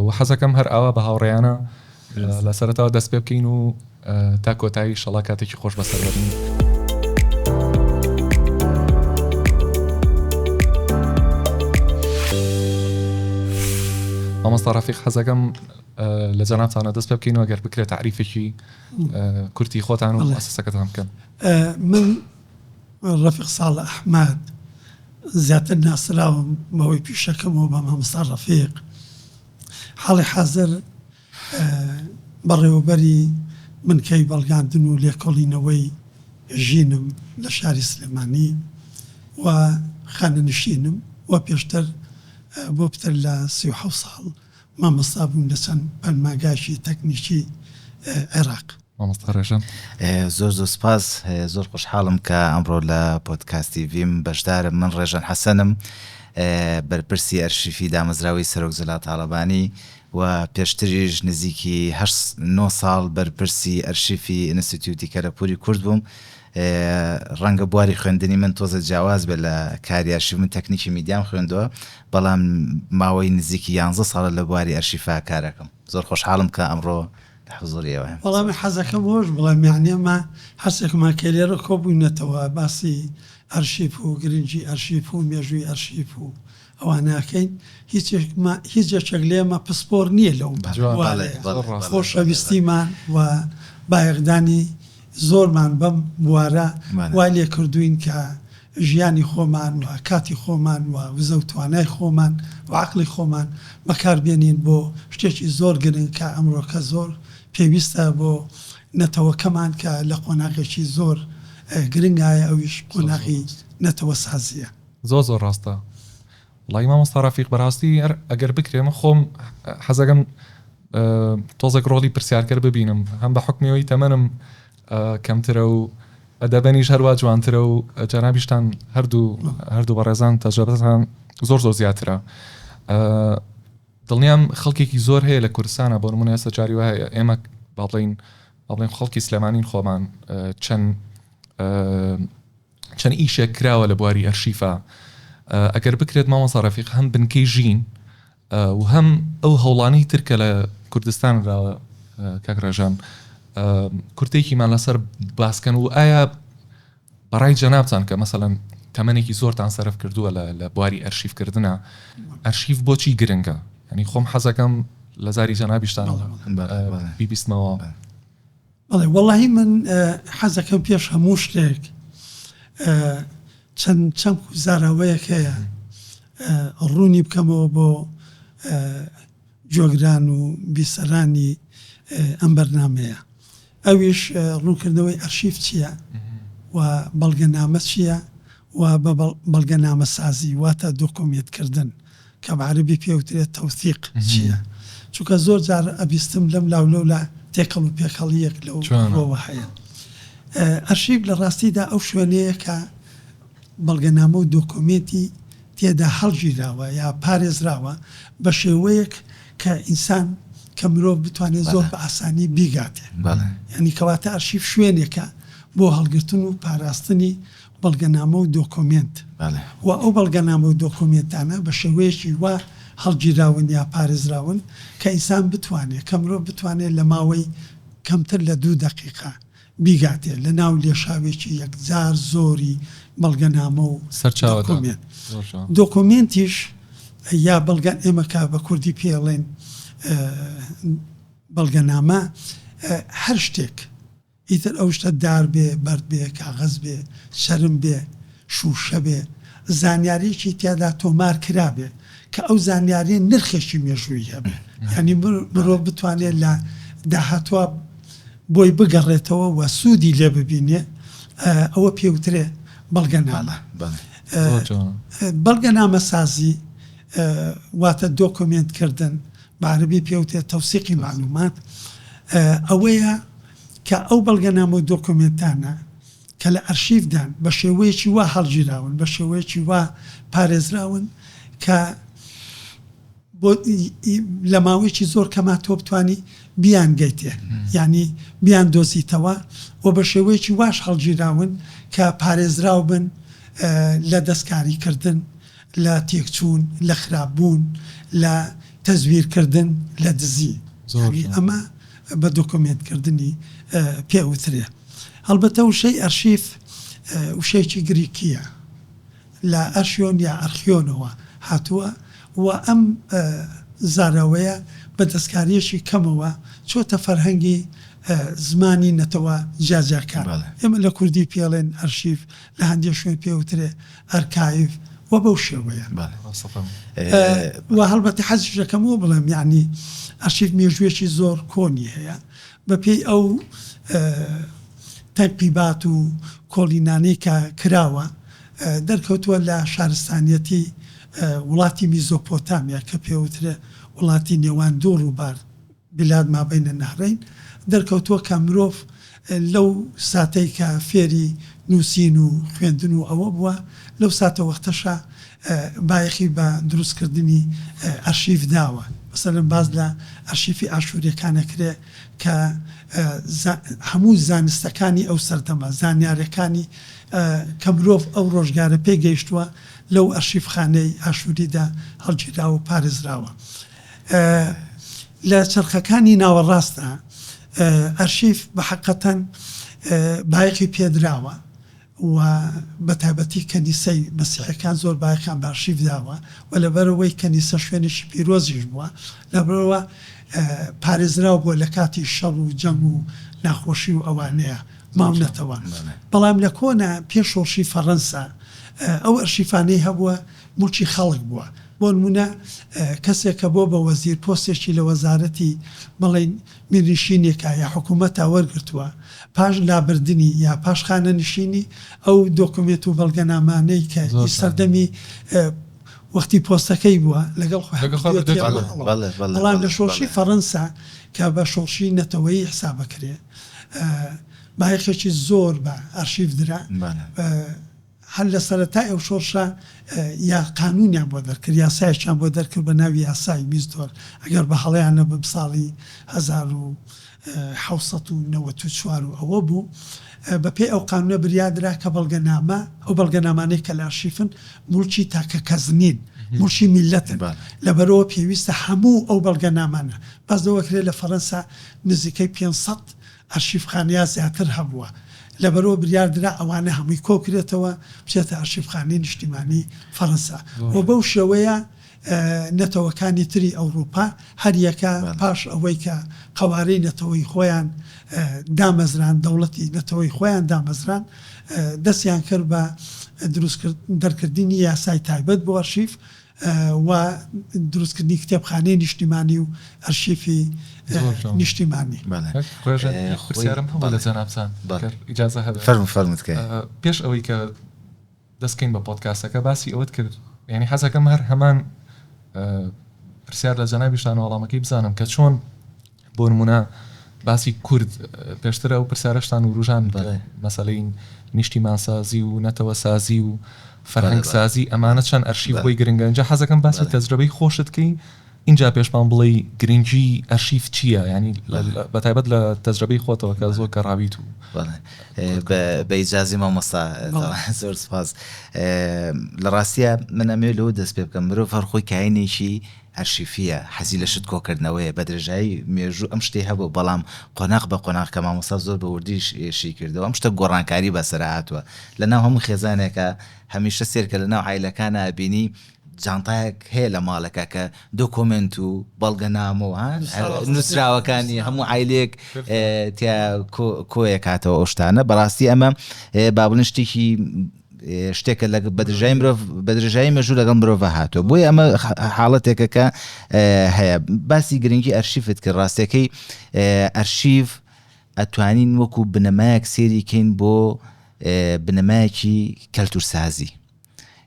وە حەزەکەم هەر ئاوا بە هاوڕێیانە لە سەرەتاوە دەست پێ بکەین و تا کۆتایی ئیشەڵا کاتێکی خۆش بەسەر بەرین. مامۆستا ڕەفیق حەزەکەم لە جەنابتانە دەست پێ بکەین و گەر بکرێت تعریفێکی کورتی خۆتان و مؤسسەکەتان بکەن. من ڕەفیق ساڵح ئەحمەد، زیاتر ناسراوم بەهۆی پیشەکەمەوە بە مامۆستا ڕەفیق، حاڵی حازر بەڕێوەبەری بنکەی بەڵگاندن و لێکۆڵینەوەی ژینم لە شاری سلێمانی و خانەنشینم و پێشتر بۆ پتر لە سی و حەوت ساڵ مامۆستا بووم لە چەند پەرماگایکی تەکنیکی عێراق. مامۆستا ڕێژەن. زۆر زۆر سپاس زۆر خۆشحاڵم کە ئەمڕۆ لە پۆدکاستی ڤیم بەشدارم من ڕێژەن حەسەنم بەرپرسی ئەرشیفی دامەزراوەی سەرۆک جەلال تاڵەبانی و پێشتریش نزیکی هەشت نۆ ساڵ بەرپرسی ئەرشیفی ئینستیتیوتی کەلەپووری کورد بووم ڕەنگە بواری خوێندنی من تۆزێ جیاواز بێت لە کاری ئەرشیف، من تەکنیکی میدیام خوێندووە، بەڵام ماوەی نزیکی یانزە ساڵە لە بواری ئەرشیفا کار ئەکەم. زۆر خۆشحاڵم کە ئەمڕۆ لە حزووری ئێوەیەم. وەڵا من حەزەکەم ئەوەش بڵێم یانی ئەمە هەرسێکمان کە لێرە کۆبووینەتەوە باسی ئەرشیف و گرنگی ئەرشیف و مێژووی ئەرشیف و ئەوە ناکەین هیچ یەکێک لێمە پسپۆر نیە لەو بوارەیە خۆشەویستیمان و بایەخدانی زۆرمان بەم بوارە وای لێ کردووین کە ژیانی خۆمان و کاتی خۆمان و وزە و توانای خۆمان و عەقڵی خۆمان بەکار بێنین بۆ شتێکی زۆر گرنگ کە ئەمرۆکە زۆر پێویستە بۆ نەتەوەکەمان کە لە قۆناغێکی زۆر گرنگایە ئەویش قۆناغی نەتەوەسازیە. زۆر زۆر ڕاستە وەڵایی مامۆستا ڕەفیق بەڕاستی هەر ئەگەر بکرێ من خۆم حەزەکەم تۆزێک ڕۆڵی پرسیارکەر ببینم هەم بە حکمی ئەوی تەمەنم کەمترە و ئەدەبەنیش هەروە جوانترە و جەنابیشتان هەردوو هەردوو بەڕێزان تەجربەتان زۆر زۆر زیاترە دڵنیام خەڵکێکی زۆر هەیە لە کوردستانە بۆ نمونە ئێستا جاری وایە ئێمە باڵین باڵێن خەڵکی سلێمانین خۆمان چەند چەند ئیشێک کراوە لە بواری ئەرشیفا ئەگەر بکرێت مامۆسا ڕەفیق هەم بنکەی ژین و هەم ئەو هەوڵانەی تر کە لە کوردستان راوە کاک ڕێژان کورتێکیمان لەسەر باسکەن و ئایا بەڕای جەنابتان کە مەسەەن تەمەێکی زۆرتان سەرف کردووە لە بواری ئەرشیفکردە ئەرشیف بۆچی گرنگە ینی خۆم حەزەکەم لە زاری جەنابیشتان بیبیستمەوە بەڵێ وەڵاهی من حەزەکەم پێش هەموو شتێک چەند چەمک و زاراوەیەک هەیە ڕوونی بکەمەوە بۆ گوێگران و بیسەرانی ئەم بەرنامەیە ئەویش ڕوونکردنەوەی ئەرشیف چییە و بەڵگەنامە چییە؟ و بە بەڵگەنامەسازی واتە دۆکۆمیەتکردن کە بە عەرەبی پێ وترێ تەوسیق چیە چونکە زۆر جار ئەبیستم لەم لاو لەو لا تێکەڵ و پێکەڵیەک لەو ڕوەوە هەیە. ئەرشیڤ لە ڕاستیدا ئەو شوێنەیە کە بەڵگەنامە و دۆکۆمێنتی تێدا هەڵگیراوە یا پارێزراوە بە شێوەیەک کە ئینسان کە مرۆڤ بتوانێ زۆر بە ئاسانی بیگاتێ یانی کەواتە ئەرشیڤ شوێنێکە بۆ هەڵگرتن و پاراستنی بەڵگەنامە و دۆکۆمێنت و ئەو بەڵگەنامە و دۆکۆمێنتانە بە شێوەیەکی وا هەڵگیراون یا پارێزراون کە ئینسان بتوانێ، کە مرۆڤ بتوانێ لە ماوەی کەمتر لە دوو دەقیقە بیگاتێ لە ناو لێشاوێکی یەکجار زۆری بەڵگەنامە و دۆکۆمێنت. دۆکۆمێنتیش یا بەڵگە، ئێمە کە بە کوردی پێی ئەڵێین بەڵگەنامە، هەر شتێک، ئیتر ئەو شتە دار بێ، بەرد بێ، کاغەز بێ، چەرم بێ، شووشە بێ، زانیارییەکی تیادا تۆمار کرابێ کە ئەو زانیارییە نرخێکی مێژوویی هەبێ. یانی مرۆڤ بتوانێ لە داهاتووا بۆی بگەڕێتەوە و سوودی لێ ببینێ، ئەوە پێ وترێ بەڵگەنامە. بەڵگەنامەسازی واتە دۆکۆمێنت کردن، بە عەرەبی پێ وترێت توثیق المعلومات، ئەوەیە کە ئەو بەڵگەنامە و دۆکۆمێنتانە کە لە ئەرشیفدان بە شێوەیەکی وا هەڵگیراون، بە شێوەیەکی وا پارێزراون کە بۆ لە ماوەیەکی زۆر کەما تۆ بتوانی بیانگەیتێ، یانی بیاندۆزیتەوە و بە شێوەیەکی واش هەڵگیراون کە پارێزراو بن لە دەستکاریکردن. لە تێکچوون، لە خراپ بوون، لە تەزویر کردن، لە دزی. یانی ئەمە بە دۆکۆمێنت کردنی پێ ئەوترێ. هەڵبەتە وشەی ئەرشیف وشەیەکی گریکییە لە ئەرشیۆن یا ئەرخیۆنەوە هاتووە و ئەم زاراوەیە بە دەستکارییەکی کەمەوە چۆتە فەرهەنگی زمانی نەتەوە جیاجیاکان. ئێمە لە کوردی پێڵێن ئەرشیف لە هەندێ شوێن پێ وترێ ئەرکایڤ و بەو شێوەیە. بەڵێ ڕاستە فەرموو. و هەڵبەتە حەزیش دەکەم ئەوە بڵێم یەعنی ئەرشیف مێژووێکی زۆر کۆنی هەیە بە پێی ئەو تەنقیبات و کۆڵینانەی کە کراوە دەرکەوتووە لە شارستانیەتی وڵاتی میزۆپۆتامیا کە پێ وترێ وڵاتی نێوان دوو ڕووبار بلاد مابین النهرین، دەرکەوتووە کە مرۆڤ لەو ساتەی کە فێری نووسین و خوێندن و ئەوە بووە، لەو ساتە وەختەشە بایەخی بە دروستکردنی ئەرشیف داوە. مەسەلەن باس لە ئەرشیفی ئاشوورییەکان ئەکرێ کە هەموو زانستەکانی ئەو سەردەمە، زانیارییەکانی کە مرۆڤ ئەو ڕۆژگارە پێی گەیشتووە لەو ئەرشیفخانەی ئاشووریدا هەڵگیراوە و پارێزراوە. لە چەرخەکانی ناوەڕاستدا ئەرشیف بە حەقەتەن بایەخی پێدراوە و بە تایبەتی کەنیسەی مەسیحیەکان زۆر بایەخیان بە ئەرشیف داوە و لەبەرئەوەی کەنیسە شوێنێکی پیرۆزیش بووە لەبەرئەوە پارێزراو بووە لە کاتی شەڕ و جەنگ و ناخۆشی و ئەوانەیە ماونەتەوە بەڵام لە کۆنە پێش شۆڕشی فەڕەنسا ئەو ئەرشیفانەی هەبووە موڵکی خەڵک بووە بۆنمونە کەسێک کە بۆ بە وەزیر پۆستێکی لە وەزارەتی بڵێین میرنشینێکا یا حکومەتا وەرگرتووە پاش لابردنی یا پاش خانەنشینی ئەو دۆکومێنت و بەڵگەنامانەی کە ئی سەردەمی وەختی پۆستەکەی بووە لەگەڵ خۆی بەڵام لە شۆڕشی فەڕەنسا کە بە شۆڕشی نەتەوەیی حسابەکرێ بایەخێکی زۆر بە ئەرشیف درا. هەر لە سەرەتای ئەو شۆڕشە یا قانوونیان بۆ دەرکرد، یاسایەکیان بۆ دەرکرد بە ناوی یاسای میزدۆر، ئەگەر بە هەڵەیان نەبم ساڵی هەزار و حەوت سەد و نەوەد و چوار و ئەوە بوو، بە پێی ئەو قانوونە بریا درا کە بەڵگەنامە، ئەو بەڵگەنامانەی کە لە ئەرشیفن موڵکی تاکە کەس نین، موڵکی میللەتن، لەبەرئەوە پێویستە هەموو ئەو بەڵگەنامانە، باس لەوە کرێ لە فەرەنسا نزیکەی پێنج سەد، ئەرشیفخانەیا زیاتر هەبووە لەبەرئەوە بریار درا ئەوانە هەمووی کۆکرێتەوە بچێتە ئەرشیفخانەی نیشتیمانی فەرەنسا و بەو شێوەیە نەتەوەکانی تری ئەوڕوپا هەریەکە پاش ئەوەی کە قەوارەی نەتەوەی خۆیان دامەزراند دەوڵەتی نەتەوەی خۆیان دامەزراند دەستیان کرد بە دروست دەرکردنی یاسای تایبەت بۆ ئەرشیف و دروستکردنی کتێبخانەی نیشتیمانی و ئەرشیفی نیشتیمانی. بەڵێ. کاک ڕێژە یەک پرسیارم هەبوو لە جەنابتان گەر ئیجازە هەبێ. فەرموو فەرموو تکایە. پێش ئەوەی کە دەست بکەین بە پۆدکاستەکە باسی ئەوەت کرد یانی حەز ئەکەم هەر هەمان پرسیار لە جەنابیشتان و وەڵامەکەی بزانم کە چۆن بۆ نموونە باسی کورد، پێشتر ئەو پرسیارەشتان وروژاند کە مەسەلەی نیشتیمانسازی و نەتەوەسازی و فەرهەنگسازی ئەمانە چەند ئەرشیڤ بۆی گرنگە، ئینجا حەزەکەم باسی تەجرەبەی خۆشت کەی ئینجا پێش پان بڵێی گرنگی ئەرشیڤ چییە یانی بە تایبەت لە تەجرەبەی خۆتەوە کە زۆر گەڕاویت و. بە ئیجازەی مامۆستا زۆر سوپاس، لە ڕاستیا من ئەمەوێت لەوە دەست پێ بکەم مرۆڤ هەر خۆی کاینێکی، ئەرشیفییە، حەزی لە شت کۆکردنەوەیە، بە درێژایی مێژوو ئەم شتەی هەبووە، بەڵام قۆناغ بە قۆناغ کە مامۆستا زۆر بە وردی شی کردەوە، ئەم شتە گۆڕانکاری بەسەرا هاتووە. لە ناو هەموو خێزانێکا هەمیشە سەیرکە لە ناو عایلەکانا ئەبینی جانتایەک هەیە لە ماڵێکا کە دۆکۆمێنت و بەڵگەنامە و نووسراوەکانی هەموو عایلەیەک تیا کۆ کۆیەکاتەوە ئەو شتانە بەڕاستی ئەمە با بڵێین شتێکی شتێکە لە بەدرژای مرۆڤ بەدرژایی مەژوو لەگەڵ مرۆڤە هاتووە بۆی ئەمە حاڵەتێکە کە هەیە باسی گرنگی ئەرشیفت کرد ڕاستەکەی ئەرشیف ئەتوانین وەکو بنەمایەک سێری کەین بۆ بنەمایەکی کەلتورسازی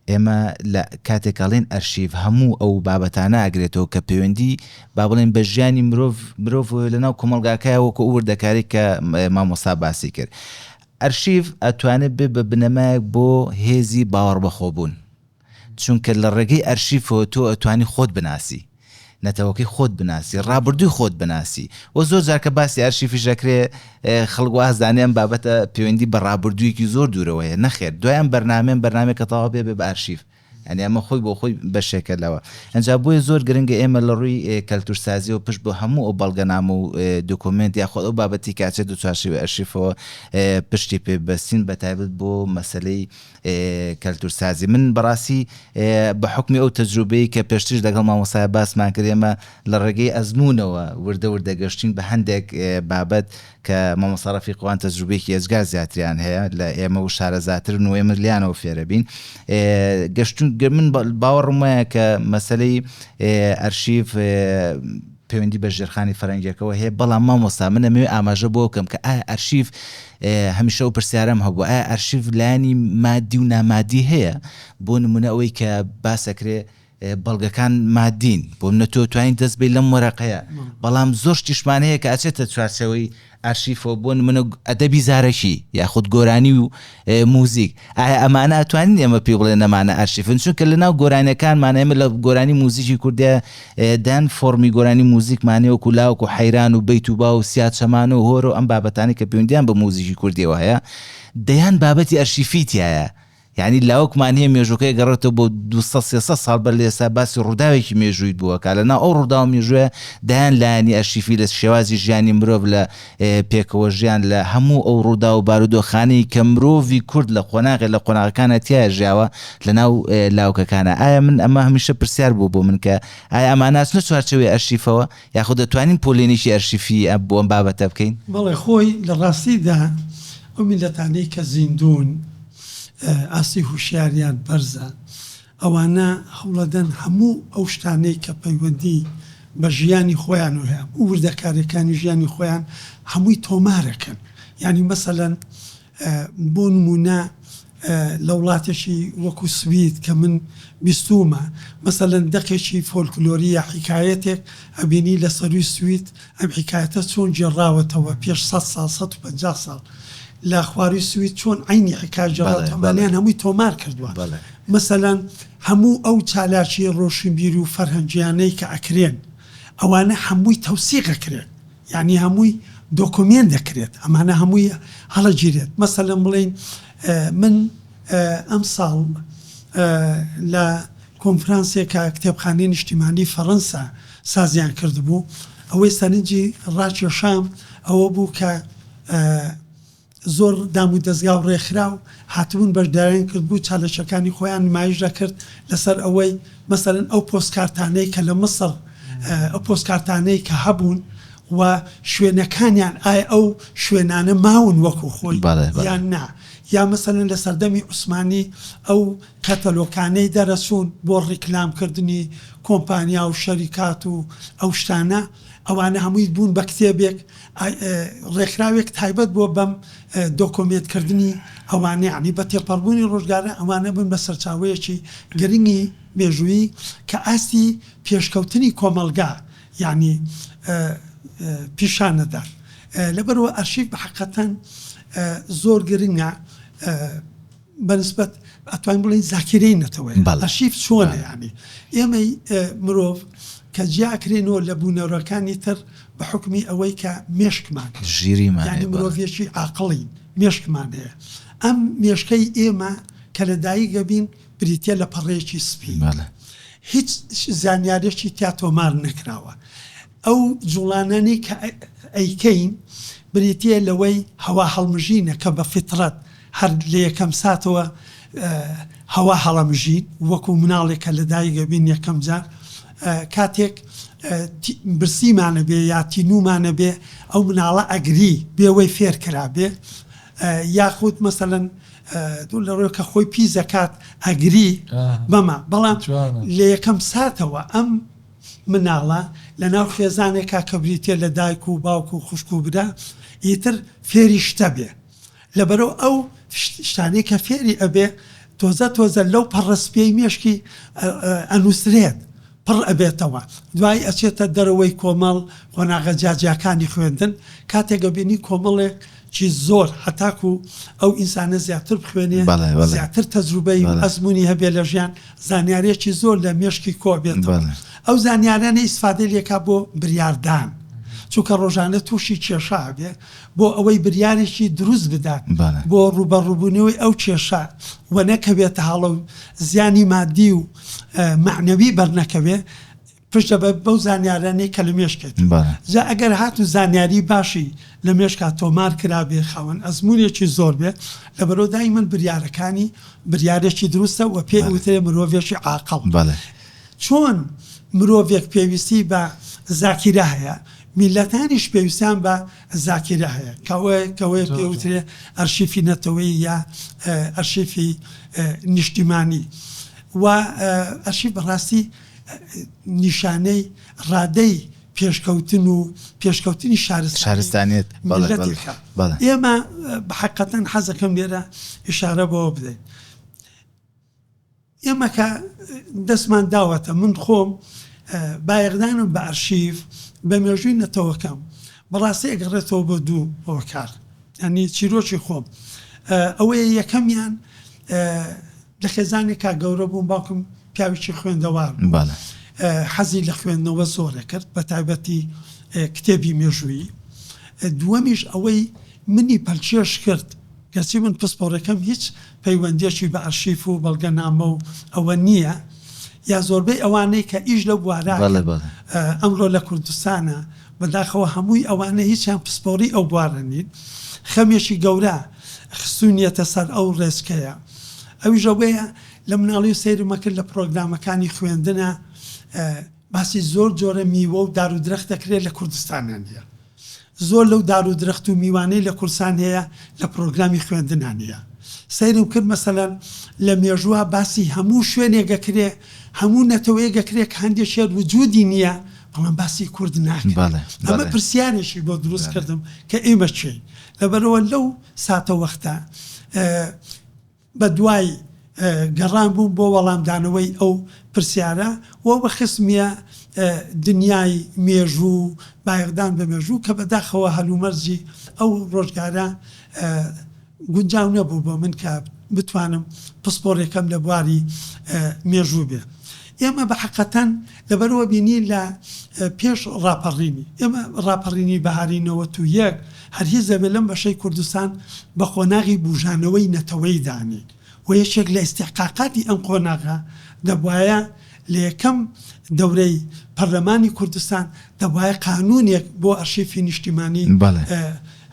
ئێمە لە کاتێکاڵێن ئەرشیف هەموو ئەو بابەتانە ئەگرێتەوە کە پەیوەندی با بڵێن بە ژیانی مرۆڤ مرۆڤ لەناو کۆمەلگاکەیە وەکو ئەوردەکاری کە مامۆستا باسی کرد ئەرشیڤ ئەتوانێت بێت بە بنەمایەک بۆ هێزی باوەڕبەخۆبوون، چونکە لە ڕێگەی ئەرشیفەوە تۆ ئەتوانی خۆت بناسی، نەتەوەکەی خۆت بناسی، ڕابردووی خۆت بناسی و زۆر جار کە باسی ئەرشیفیش ئەکرێت خەڵک واز دانێ ئەم بابەتە پێوەندی بە ڕابردوویەکی زۆر دوورەوە هەیە، نەخێر دوای ئەم بەرنامەیەم بەرنامەیەکە تەواو بێ بێ بە ئەرشیف. یانی ئەمە خۆی بۆ خۆی بەشێکە لەوە. ئینجا بۆیە زۆر گرنگە ئێمە لە ڕووی کەلتوورسازییەوە پشت بۆ هەموو ئەو بەڵگەنامە و دۆکۆمێنت یاخود ئەو بابەتی کە ئەچێت لە چوارچێوەی ئەرشیفەوە پشتی پێ ببەستین بە تایبەت بۆ مەسەلەی کەلتوورسازی. من بە ڕاستی بە حوکمی ئەو تەجروبەی کە پێشتریش لەگەڵ مامۆستایە باسمان کرد ئێمە لە ڕێگەی ئەزموونەوە وردە وردە گەشتین بە هەندێک بابەت کە مامۆستا ڕەفیقوان تەجروبەیەکی ئێجگار زیاتریان هەیە لە ئێمە و شارەزاترن و ئێمە لێیانەوە فێرەبین گەشتون گە من باوەڕم وایە کە مەسەلەی ئەرشیف پەیوەندی بە ژێرخانی فەرەنگیەکەەوە هەیە بەڵام مامۆستا منە مێ ئاماژە بۆ کەم کە ئایا ئەرشیف هەمیشە و پرسیارم هەبوو ئایا ئەرشیف لانی مادی و نامادی هەیە بۆ نمونە ئەوەی کە باسەکرێ بەڵگەکان ماددین، بۆ منە تۆ توانیت دەست بەی لەم وەرەقەیە، بەڵام زۆر شتیش مان هەیە کە ئەچێتە چوارچێوەی ئارشیفەوە، بۆ نمونە ئەدەبی زارەکی یاخود گۆرانی و موزیک، ئایا ئەمانە ئەتوانین ئێمە پێی بڵێن ئەمانە ئارشیفن؟ چونکە لە ناو گۆرانیەکانمان ئێمە لە گۆرانی موزیکی کوردیا دەن فۆڕمی گۆرانی موزیکمانێ وەکو لاوک و حەیران و بەیت و با و سیا چەمان و هۆرە و ئەم بابەتانی کە پەیوەندیان بە موزیکی کوردیەوە هەیە دەیان بابەتی ئەرشیفی تیایە، یانی لاوکمان هەیە مێژووەکەی ئەگەڕێتەوە بۆ دوو سەد سێ سەد ساڵ بەر لە ئێستا باسی ڕووداوێکی مێژوویت بووە کە لەناو ئەو ڕووداو مێژووە دەیان لایەنی ئەرشیفی لە شێوازی ژیانی مرۆڤ لە پێکەوە ژیان لە هەموو ئەو ڕوودا و بارودۆخانەی کە مرۆڤی کورد لە قۆناغێ لە قۆناغەکانە تیا ژیاوە لەناو لاوکەکانە ئایا من ئەمە هەمیشە پرسیار بوو بۆ من کە ئایا ئەماناچنە چوارچەوەی ئەرشیفەوە یاخود دەتوانین پۆلێنێکی ئەرشیفی ئەم بۆ ئەم بابەتە بکەین؟ بەڵێ، خۆی لە ڕاستیدا ئەو میللەتانەی کە زیندوون ئاستی هوشیاریان بەرزە، ئەوانە هەوڵەدەن هەموو ئەو شتانەی کە پەیوەندی بە ژیانی خۆیان و وردەکاریەکانی ژیانی خۆیان هەمووی تۆمارەکەن یانی مەسەلەن، بۆ نموونە لە وڵاتێکی وەکوو سوید کە من بیستوومە، مەسەلەن دەقێکی فۆلکلۆری یا حیکایەتێک ئەبینی لە سەرووی سوید ئەم حیکایەتە چۆن گێڕاوەتەوە پێش سەد ساڵ، سەد و پەنجا ساڵ لە خوارووی سوید چۆن عەینی حیکایە گێڕاوەتەوە، ئەمانەیان هەمووی تۆمار کردووە. مەسەلەن هەموو ئەو چالاکییە ڕۆشنبیر و فەرهەنگییانەی کە ئەکرێن، ئەوانە هەمووی تەوسیق ئەکرێن. یانی هەمووی دۆکۆمێنت دەکرێت ئەمانە هەمووی هەڵەگیرێت مەسەلەن بڵێین من ئەمساڵ لە کۆنفرانسێکا کتێبخانەی نیشتیمانی فەڕەنسا سازیان کردبوو ئەوەی سەرنجی ڕاکێشام ئەوە بوو کە زۆر دامودەزگا و ڕێکخراو هاتبوون بەشداریان کردبوو چالێشەکانی خۆیان نمایش دەکرد لەسەر ئەوەی مەسەلەن ئەو پۆستکارتانەی کە لە مصر ئەو پۆستکارتانەی کە هەبوون و شوێنەکانیان ئایا ئەو شوێنانە ماون وەکو خۆی یان نا یا مەسەلەن لە سەردەمی عوسمانی ئەو کەتەلۆکانەی دەرەچوون بۆ ڕیکلام کردنی کۆمپانیا و شەریکات و ئەو شتانە ئەوانە هەمووی بوون بە کتێبێک ڕێکخراوێک تایبەت بۆ بەم دۆکۆمێنت کردنی ئەوانە یانی بە تێپەڕبوونی ڕۆژگارە ئەوانە بوون بە سەرچاوەیەکی گرنگی مێژوویی کە ئاستی پێشکەوتنی کۆمەڵگا یانی پیشانەدات لەبەرئەوە ئەرشیف بە حەقەتەن زۆر گرنگە. بە نسبەت ئەتوانین بڵێین زاکیرەی نەتەوەیە ئەرشیف چۆنە یانی ئێمەی مرۆڤ کە جیاکرێنەوە لە بوونەوەرەکانی تر بە حوکمی ئەوەی کە مێشکمان ژیری مانی مرۆڤێکی ئاقڵین مێشکمان هەیە ئەم مێشکەی ئێمە کە لە دایکە بین بریتە لە پەڕەیەکی سپی هیچ زانیارێکی تیا تۆمار نەکراوە ئەو جوڵانانەی کە ئەیکەین بریتییە لەوەی هەوا هەڵمژینە کە بە فیتڕەت هەر لە یەکەم ساتەوە هەوا هەڵەمژین وەکو مناڵێک کە لە دایک ئەبین یەکەم جار کاتێک برسیمان ئەبێ یا تینوومان ئەبێ ئەو مناڵە ئەگری بێوەی فێر کرابێ یاخود مەسەلەن لە ڕۆێ کە خۆی پیس دەکات ئەگری بەمە بەڵام لە یەکەم ساتەوە ئەم مناڵە لە ناو خێزانێکا کە بریتیە لە دایک و باوک و خوشک و برا ئیتر فێری شتە بێ لەبەرو ئەو شتانەی کە فێری ئەبێ تۆزە تۆزە لەو پەڕە سپیەی مێشکی ئەنوسرێت پڕ ئەبێتەوە دوای ئەچێتە دەرەوەی کۆمەڵ قۆناغە جیاجیاکانی خوێندن کاتێک ئەبینی کۆمەڵێک چی زۆر هەتاکو ئەو ئینسانە زیاتر بخوێنێ زیاتر تەجروبەی ئەزمونی هەبێ لە ژیان زانیاریەکی زۆر لە مێشکی کۆ بێتەوە ئەو زانیارانە ئیسفادەی لێکا بۆ بریاردان چونکە ڕۆژانە تووشی کێشە ئەبێ بۆ ئەوەی بریارێکی دروست بدات بۆ ڕوبەڕوبونەوەی ئەو کێشە وە نەکەوێتە هەڵە و زیانی مادی و مەعنەوی بەرنەکەوێ پشتە بە بەو زانیارانەی کە لە مێشکێتە بەڵێ. جا ئەگەر هاتوو زانیاری باشی لە مێشکا تۆمار کرابێ خاوەن ئەزموونێکی زۆر بێ لەبەرو دایمەن بریارەکانی بریارێکی دروستە وە پێ بەڵێ. وترێ مرۆڤێکی عاقڵ بەڵێ. چۆن مرۆڤێک پێویستی بە زاکیرە هەیە میللەتانیش پێویستیان بە زاکیرە هەیە کەوە کەوەیە پێ زۆر جوان. وترێ ئەرشیفی نەتەوەیی یا ئەرشیفی نیشتیمانی وە ئەرشیف بەڕاستی نیشانەی ڕادەی پێشکەوتن و پێشکەوتنی شارستانیەت میللەتێکە. ئێمە حەقیقەتەن حەز دەکەم لێرە ئیشارە بەوە بدەین، ئێمە کە دەستمان داوەتە من خۆم بایەخدانم بە ئەرشیف بە مێژووی نەتەوەکەم بە ڕاستی ئەگەڕێتەوە بۆ دوو هۆکار، یانی چیرۆکی خۆم ئەوەیە یەکەمیان لە خێزانێک کا گەورە بووم باوکم پیاوێکی خوێندەوار بوو حەزی لە خوێندنەوە زۆرە کرد بە تایبەتی کتێبی مێژووی دووەمیش ئەوەی منی پەلکێش کرد کەچی من پسپۆڕەکەم هیچ پەیوەندیەکی بە ئەرشیف و بەڵگە نامە و ئەوە نییە یا زۆربەی ئەوانەی کە ئیش لە بوارە ئەمڕۆ لە کوردستانە بەداخەوە هەمووی ئەوانە هیچیان پسپۆڕی ئەو بوارە نین خەمێکی گەورە خستوونیەتە سەر ئەو ڕێچکەیە ئەویش ئەوەیە لە مناڵی سەیرم ئەکرد لە پڕۆگرامەکانی خوێندنا باسی زۆر جۆرە میوە و دار و درەخت دەکرێت لە کوردستانا نیە زۆر لەو دار و درەخت و میوانەی لە کوردستان هەیە لە پڕۆگرامی خوێندنا نیە سەیرم کرد مەسەلەن لە مێژووا باسی هەموو شوێنێک ئەکرێ هەموو نەتەوەیەک ئەکرێ کە هەندێک شێت وجودی نیە بەڵام باسی کورد ناکرێت ئەمە پرسیارێکی بۆ دروست کردم کە ئێمە کێین لەبەرەوە لەو ساتە وەختە بە دوای گەڕان بووم بۆ وەڵامدانەوەی ئەو پرسیارە و بە خستمیە دنیای مێژوو و بایەخدان بە مێژوو کە بەداخەوە هەلومەرجی ئەو ڕۆژگارە گونجاو نەبوو بۆ من کە بتوانم پسپۆڕیەکەم لە بواری مێژوو بێ ئێمە بە حەقەتەن لەبەرئەوە بینی لە پێش ڕاپەڕینی ئێمە ڕاپەڕینی بەهاری نەوەت و یەک هەر هیز دەبێ لەم بەشەی کوردستان بە قۆناغی بوژانەوەی نەتەوەیی دانێین و یەکێک لە ئیستحقاقاتی ئەم قۆناغە دەبوایە لە یەکەم دەورەی پەرلەمانی کوردستان دەبوایە قانوونێک بۆ ئەرشیفی نیشتیمانی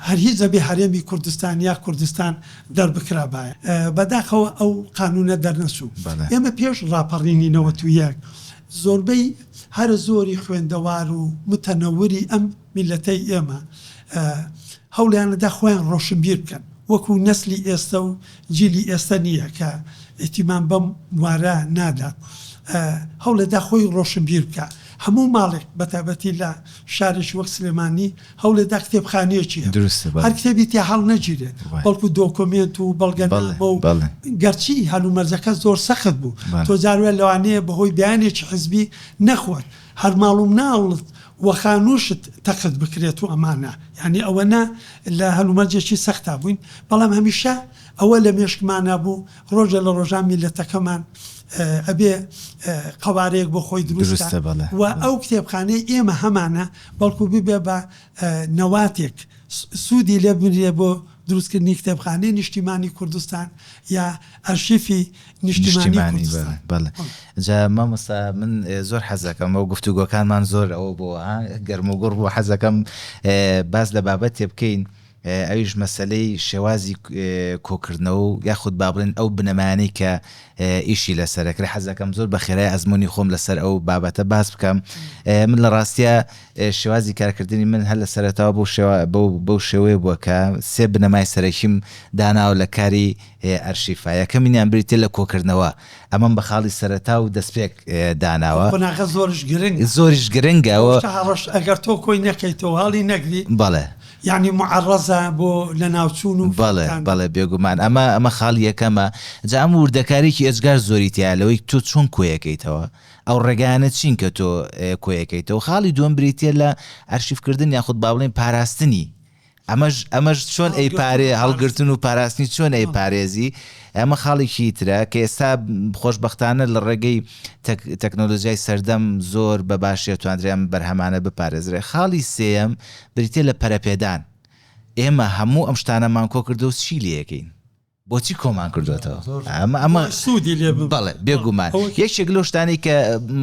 هەر هیچ ئەبێ هەرێمی کوردستان یا کوردستان دەربکرابایە. بەداخەوە ئەو قانوونە دەرنەچوو. ئێمە پێش ڕاپەڕینی نەوەت و یەک زۆربەی هەرە زۆری خوێندەوار و متەنەوری ئەم میللەتەی ئێمە هەوڵیاندا خۆیان ڕۆشنبیر بکەن وەکوو نەسلی ئێستە و جیلی ئێستە نییە کە ئیتیمام بەم بوارە نادات هەوڵێدا خۆی ڕۆشنبیر بکا هەموو ماڵێک بەتابەتی لە شارێکی وەک سلێمانی هەوڵێدا کتێبخانەیەکی هەبێت دروستە بەڵێ. هەر کتێبی تیا هەڵنەگیرێت، بەڵێ. بەڵکو دۆکۆمێنت و بەڵگەنامە بەڵێ، و بەڵێ. گەرچی هەلومەرجەکە زۆر سەخت بوو، بەڵێ. تۆ جار وایە لەوانەیە بەهۆی بیانێکی حزبی نەخۆت هەر ماڵ و مناڵت و خانووشت تەقت بکرێت و ئەمانە، یانی ئەوەنە لە هەلومەرجێکی سەختا بووین، بەڵام هەمیشە ئەوە لە مێشکمانا بوو ڕۆژێ لە ڕۆژان میللەتەکەمان ئەبێ قەوارەیەک بۆ خۆی دروست کات دروستە بەڵێ، و بەڵێ. ئەو کتێبخانەی ئێمە هەمانە بەڵکو ببێ بە نەواتێک سوودی لێ ببینرێ بۆ دروستکردنی کتێبخانەی نیشتیمانی کوردستان یا ئەرشیفی نیشتیمانی کوردستان. بەڵێ جا مامۆستا من زۆر حەز دەکەم ئەو گفتوگۆکانمان زۆر ئەوە بۆ ها گەرموگوڕ بوو حەز دەکەم باس لە بابەتێ بکەین، ئەویش مەسەلەی شێوازی کۆکردنەوە و یاخود با بڵێین ئەو بنەمایانەی کە ئیشی لەسەرە کرا، حەز دەکەم زۆر بە خێرای ئەزموونی خۆم لەسەر ئەو بابەتە باس بکەم. من لە ڕاستیا شێوازی کارکردنی من هەر لە سەرەتاوە بەو شێوا بەو بەو شێوەیە بووە کە سێ بنەمای سەرەکیم داناوە لە کاری ئەرشیفا. یەکەمینیان بریتییە لە کۆکردنەوە، ئەمەم بە خاڵی سەرەتا و دەستپێک داناوە. قۆناغە زۆرش گرنگە. زۆریش گرنگە و. شتە هەڕەشە ئەگەر تۆ کۆی نەکەیتەوە، هەڵی نەگری. بەڵێ. یەعنی موعەڕەزە بۆ لەناوچوون و بەڵێ فەوتان. بەڵێ بێگومان ئەمە ئەمە خاڵ یەکەمە جا ئەم ووردەکاریی ئێجگار زۆری تیایە لەوەی تۆ چۆن کۆیەکەیتەوە ئەو ڕێگایانە چین کە تۆ کۆیەکەیتەوە خاڵی دووەم بریتیە لە ئەرشیفکردن یاخود با بڵێین پاراستنی ئەمەش ئەمەش چۆن ئەی پارێ هەڵگرتن و پاراستنی چۆن ئەی پارێزی ئەمە خاڵێکی ترە کە ئێستا خۆشبەختانە لە ڕێگەی تەک تەکنۆلۆجیای سەردەم زۆر بە باشی توانرێم بەرهەمانە بپارێزرێ خاڵی سێیەم بریتیە لە پەرەپێدان، ئێمە هەموو ئەم شتانەمان کۆ کردوە و چی لێکەین؟ بۆچی کۆمان کردۆتەوە؟ ئەمە سودی لێ ببە. بەڵێ بێگومان یەکێک لەو شتانەی کە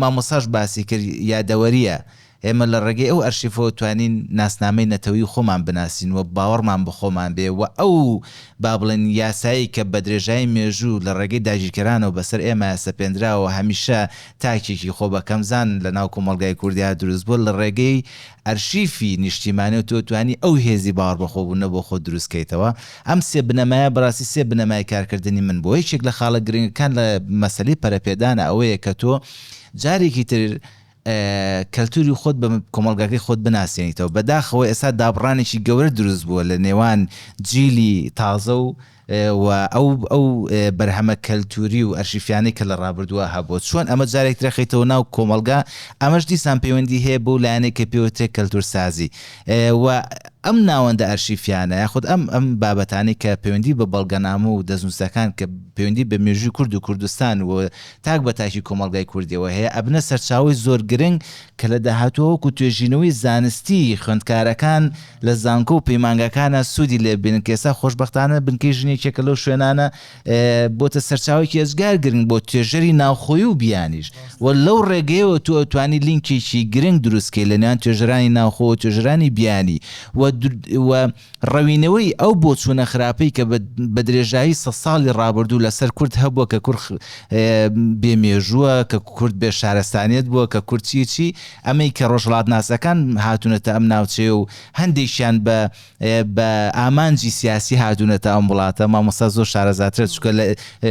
مامۆستاش باسی کرد یادەوەریە، ئێمە لە ڕێگەی ئەو ئەرشیفەوە توانین ناسنامەی نەتەوەی خۆمان بناسین و باوەڕمان بە خۆمان بێ و ئەو با بڵێن یاسایی کە بە درێژایی مێژوو لە ڕێگەی داگیرکەرانەوە بەسەر ئێمە سەپێندراوە هەمیشە تاکێکی خۆبەکەمزان لەناو کۆمەڵگای کوردیا دروست بووە لە ڕێگەی ئەرشیفی نیشتیمانی و تۆ توانی ئەو هێزی باوەڕبەخۆبوونە بۆ خۆت دروست کەیتەوە، ئەم سێ بنەمایە بەڕاستی سێ بنەمای کارکردنی من بووە، یەکێک لە خاڵە گرنگەکان لە مەسەلەی پەرەپێدانە ئەوەیە کە تۆ جارێکی تر کەلتوری خۆت بە کۆمەڵگاکەی خۆت بناسێنیتەوە، بەداخەوە ئێستا دابڕانێکی گەورە دروست بووە لە نێوان جیلی تازە و و ئەو ئەو بەرهەمە کەلتووری و ئەرشیفیانەی کە لە ڕابردووە هەبووە، چۆن ئەمە جارێک ترە خەیتەوە ناو کۆمەڵگا، ئەمەش دیسان پەیوەندی هەیە بەو لایەنەی کە پێ وترێ کەلتوورسازی و ئەم ناوەندە ئەرشیفیانە یاخود ئەم ئەم بابەتانەی کە پەیوەندی بە بەڵگەنامە و دەستنووسەکان کە پەیوەندی بە مێژووی کورد و کوردستان و تاک بە تاکی کۆمەڵگای کوردیەوە هەیە ئەبنە سەرچاوەی زۆر گرنگ کە لە داهاتووە وەکوو توێژینەوەی زانستی خوێندکارەکان لە زانکۆ و پەیمانگاکانە سوودی لێ ببینن، کە ئێستا خۆشبەختانە بنکەی ژن یەکێکە لەو شوێنانە بۆتە سەرچاوەیەکی ئێجگار گرنگ بۆ توێژەری ناوخۆیی و بیانیش و لەو ڕێگەیەوە تۆ ئەتوانی لینکێکی گرنگ دروست کەی لە نێوان توێژەرانی ناوخۆ و توێژەرانی بیانی و و ڕەوینەوەی ئەو بۆچوونە خراپەی کە بە درێژایی سەد ساڵی ڕابردوو لەسەر کورد هەبووە کە کورد بێ مێژووە، کە کورد بێ شارستانیەت بووە، کە کورد چی چی، ئەمەی کە ڕۆژهەڵاتناسەکان هاتوونەتە ئەم ناوچەیە و هەندێکیان بە بە ئامانجی سیاسی هاتوونەتە ئەم وڵاتە مامۆستا زۆر شارەزاترە چونکە لە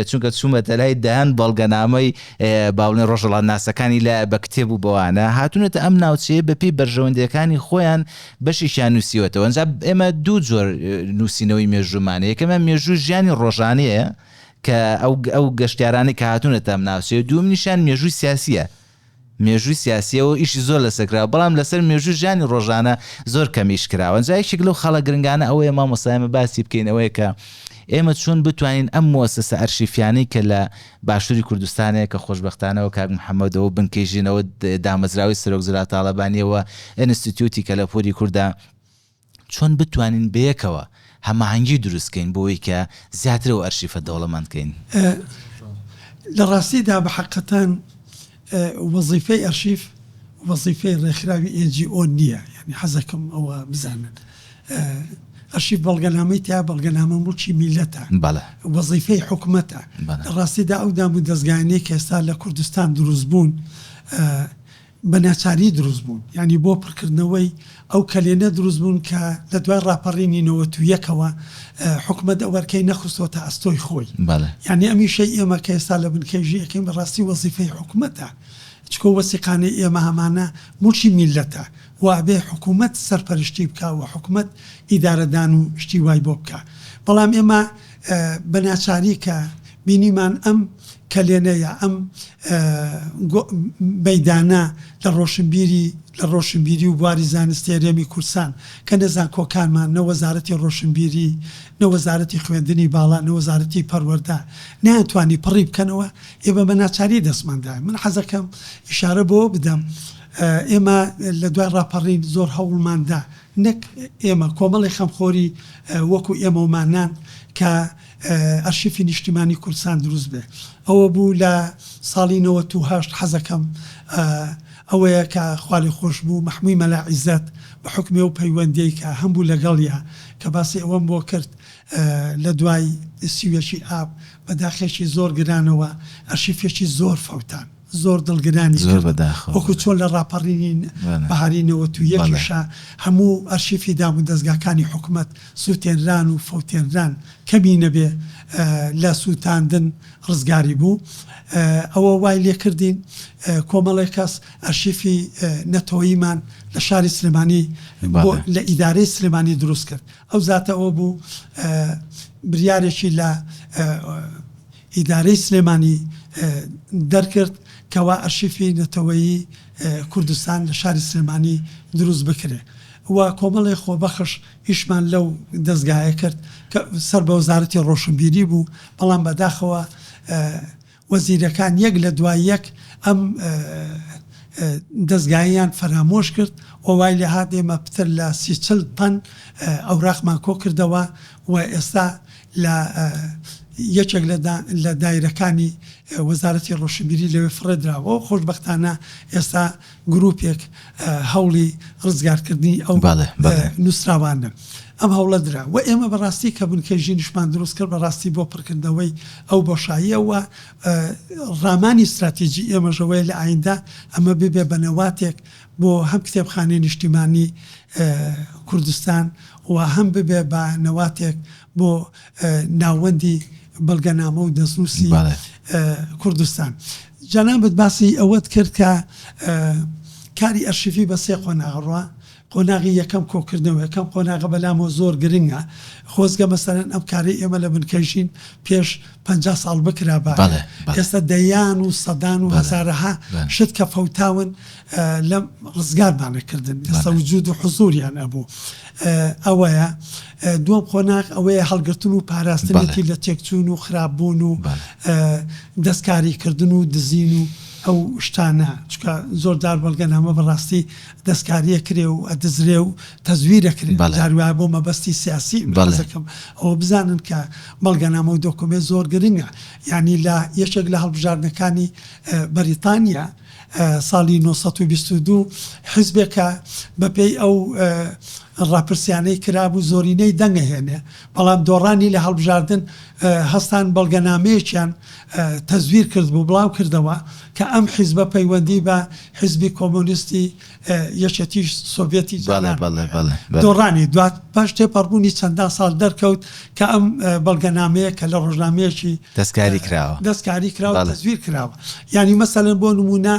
چونکە چوومەتە لای دەیان بەڵگەنامەی باڵێ ڕۆژهەڵاتناسەکانی لە بە کتێب و بەوانە هاتوونەتە ئەم ناوچەیە بەپێی بەرژەوەندەکانی خۆیان بەشێکیان نووسیوەتەوە ئەنجا ئێمە دوو جۆر نووسینەوەی مێژوومانە یەکەمە مێژوو ژیانی ڕۆژانەیە کە ئەو ئەو گەشتارانی کە هاتوونەتە ئەم ناوچەیە دووەم نیشان مێژووی سیاسیە مێژووی سیاسیەوە ئیشی زۆر لەسەر کراوە بەڵام لەسەر مێژووی ژیانی ڕۆژانە زۆر کەم ئیش کراوە جا یەکێک لەو خاڵە گرنگانە ئەوەیە مامۆستا ئێمە باسی بکەین ئەوەیە کە ئێمە چۆن بتوانین ئەم موەسەسە ئەرشیفیانەی کە لە باشووری کوردستانەیە کە خۆشببختانەوە کاک محەممەدەوە بنکەی ژینەوە دامەزراوەی سەرۆک زرا تاالبانیەوە ئەنستیتیوتی کەلەپوری کووردا چۆن بتوانین بەیەکەوە هەماهەنگی دروست کەین بۆوەی کە زیاتر ئەو ئەرشیفە دەوڵەمەند کەین؟ لە ڕاستیدا بە حەقەتان وەزیفەی ئەرشیف وەزیفەی ڕێکخراوی NGO نییە یانی حەزەکەم ئەوە بزانن ئەرشیف بەڵگەنامەی تیا بەڵگەنامە موڵکی میللەتە وەزیفەی حکومەتە لە ڕاستیدا ئەو دامودەزگانەی کە ئێستا لە کوردستان دروست بوون بە ناچاری دروست بوون یانی بۆ پڕکردنەوەی ئەو کەلێنە دروست بوون کە لە دوای ڕاپەڕینی نەوەت و یەکەوە حکومەت ئەو ئەرکەی نەخستۆتە ئەستۆی خۆی یانی ئەم ئیشەی ئێمە کە ئێستا لە بنکەی ژی ئەکەین بە ڕاستی وەزیفەی حکومەتە چکۆ وەسیقانەی ئێمە ئەمانە موڵکی میللەتە و ئەبێ حکومەت سەرپەرشتی بکا و حکومەت ئیدارەدان و شتی وای بۆ بکا بەڵام ئێمە بە ناچاری کە بینیمان ئەم کەلێنە یا ئەم مەیدانە لە ڕۆشنبیری لە ڕۆشنبیری و بواری زانستی هەرێمی کوردستان کە نە زانکۆکانمان نە وەزارەتی ڕۆشنبیری نە وەزارەتی خوێندنی باڵا نە وەزارەتی پەروەردە نەیانتوانی پڕی بکەنەوە ئێمە بە ناچاری دەستمان دایە من حەزەکەم ئیشارە بەوە بدەم ئێمە لە دوای ڕاپەڕین زۆر هەوڵمان دا نەک ئێمە، کۆمەڵی خەمخۆری وەکو ئێمە و مانان کە ئەرشیفی نیشتیمانی کوردستان دروست بێ ئەوە بوو لە ساڵی نەوەت و هەشت حەزەکەم ئەوەیە کە خوا لێ خۆش بوو مەحموی مەلا عیزەت بە حوکمی ئەو پەیوەندیەی کە هەمبوو لە گەڵیا کە باسی ئەوەم بۆ کرد لە دوای سی و یەکی ئاب بە داخێکی زۆر گرانەوە ئەرشیفێکی زۆر فەوتان زۆر دڵگرانی زۆر کرد بەداخەوە وەکو چۆن لە ڕاپەڕینی بەلێ بەهاری نەوەت و بەڵێ. یەکیشا هەموو ئەرشیفی دامودەزگاکانی حکومەت سوتێنران و فەوتێنران کەمی نەبێ لە سوتاندن ڕزگاری بوو ئەوە وای لێکردین کۆمەڵێ کەس ئەرشیفی نەتەوەیمان لە شاری سلێمانی بۆ بەڵێ. لە ئیدارەی سلێمانی دروست کرد ئەو زاتە ئەوە بوو بریارێکی لە ئیدارەی سلێمانی دەرکرد کەوا ئەرشیفی نەتەوەیی کوردستان لە شاری سلێمانی دروست بکرێ و کۆمەڵێ خۆبەخش ئیشمان لەو دەزگایە کرد کە سەر بە وەزارەتی ڕۆشنبیری بوو بەڵام بەداخەوە وەزیرەکان یەک لە دوای یەک ئەم دەزگایەیان فەرامۆش کرد و وای لێ هات ئێمە پتر لە سی چل تەن ئەوراقمان کۆ کردەوە و ئێستا لە یەکێک لە دایرەکانی وەزارەتی ڕۆشنبیری لەوێ فڕێدراوە و خۆشبەختانە ئێستا گرووپێک هەوڵی ڕزگارکردنی ئەو نووسراوانەن. ئەم هەوڵە درا و ئێمە بەڕاستی کە بنکەی ژینشمان دروست کرد بەڕاستی بۆ پڕکردنەوەی ئەو بۆشاییە و ڕامانی ستراتیجی ئێمەش ئەوەیە لە ئایندە ئەمە ببێ بە نەواتێک بۆ هەم کتێبخانەی نیشتیمانی کوردستان و هەم ببێ بە نەواتێک بۆ ناوەندی بەڵگەنامە و دەستنووسی کوردستان. جەنابت باسی ئەوەت کرد کە کاری ئەرشیفی بە سێ قۆناغ ڕوا، قۆناغی یەکەم کۆکردنەوە، یەکەم قۆناغە بەلامەوە زۆر گرنگە، خۆزگە مەسەلەن ئەم کارەی ئێمە لە بنکەی ژین پێش، پەنجا ساڵ بکرابا ئێستا دەیان و سەدان و هەزارەها شت کە فەوتاون لە ڕزگارمان نەکردن ئێستا وجود و حزوریان ئەبوو ئەوەیە دووەم قۆناغ ئەوەیە هەڵگرتن و پاراستنێکی لە تێکچوون و خراپ بوون و دەستکاری کردن و دزین و ئەو شتانە چکە زۆر دار بەڵگەن هەمە بەڕاستی دەستکاریە کرێ و ئەدزرێ و تەزویرەکرێن جار وایە بۆ مەبەستی سیاسی حەزەکەم ئەوە بزانن کە بەڵگەنامە و دۆکۆمێ زۆر گرنگە یانی لە یەکێک لە هەڵبژاردنەکانی بەریتانیا ساڵی نۆ سەد و بیست و دوو حیزبێکە بە پێی ئەو ڕاپرسیانەی کرابوو زۆرینەی دەنگە هێنێ بەڵام دۆڕانی لە هەڵبژاردن هەستان بەڵگەنامەیەکیان تەزویر کرد بوو بڵاو کردەوە کە ئەم حیزبە پەیوەندی بە حیزبی کۆمۆنیستی یەکێتی سۆڤێتی جاران دۆڕانی دوات پاش تێپەڕبوونی چەندان ساڵ دەرکەوت کە ئەم بەڵگەنامەیە کە لە ڕۆژنامەیەکی دەستکاری کراوە دەستکاری کراوە تەزویر کراوە یانی مەسەلەن بۆ نمونە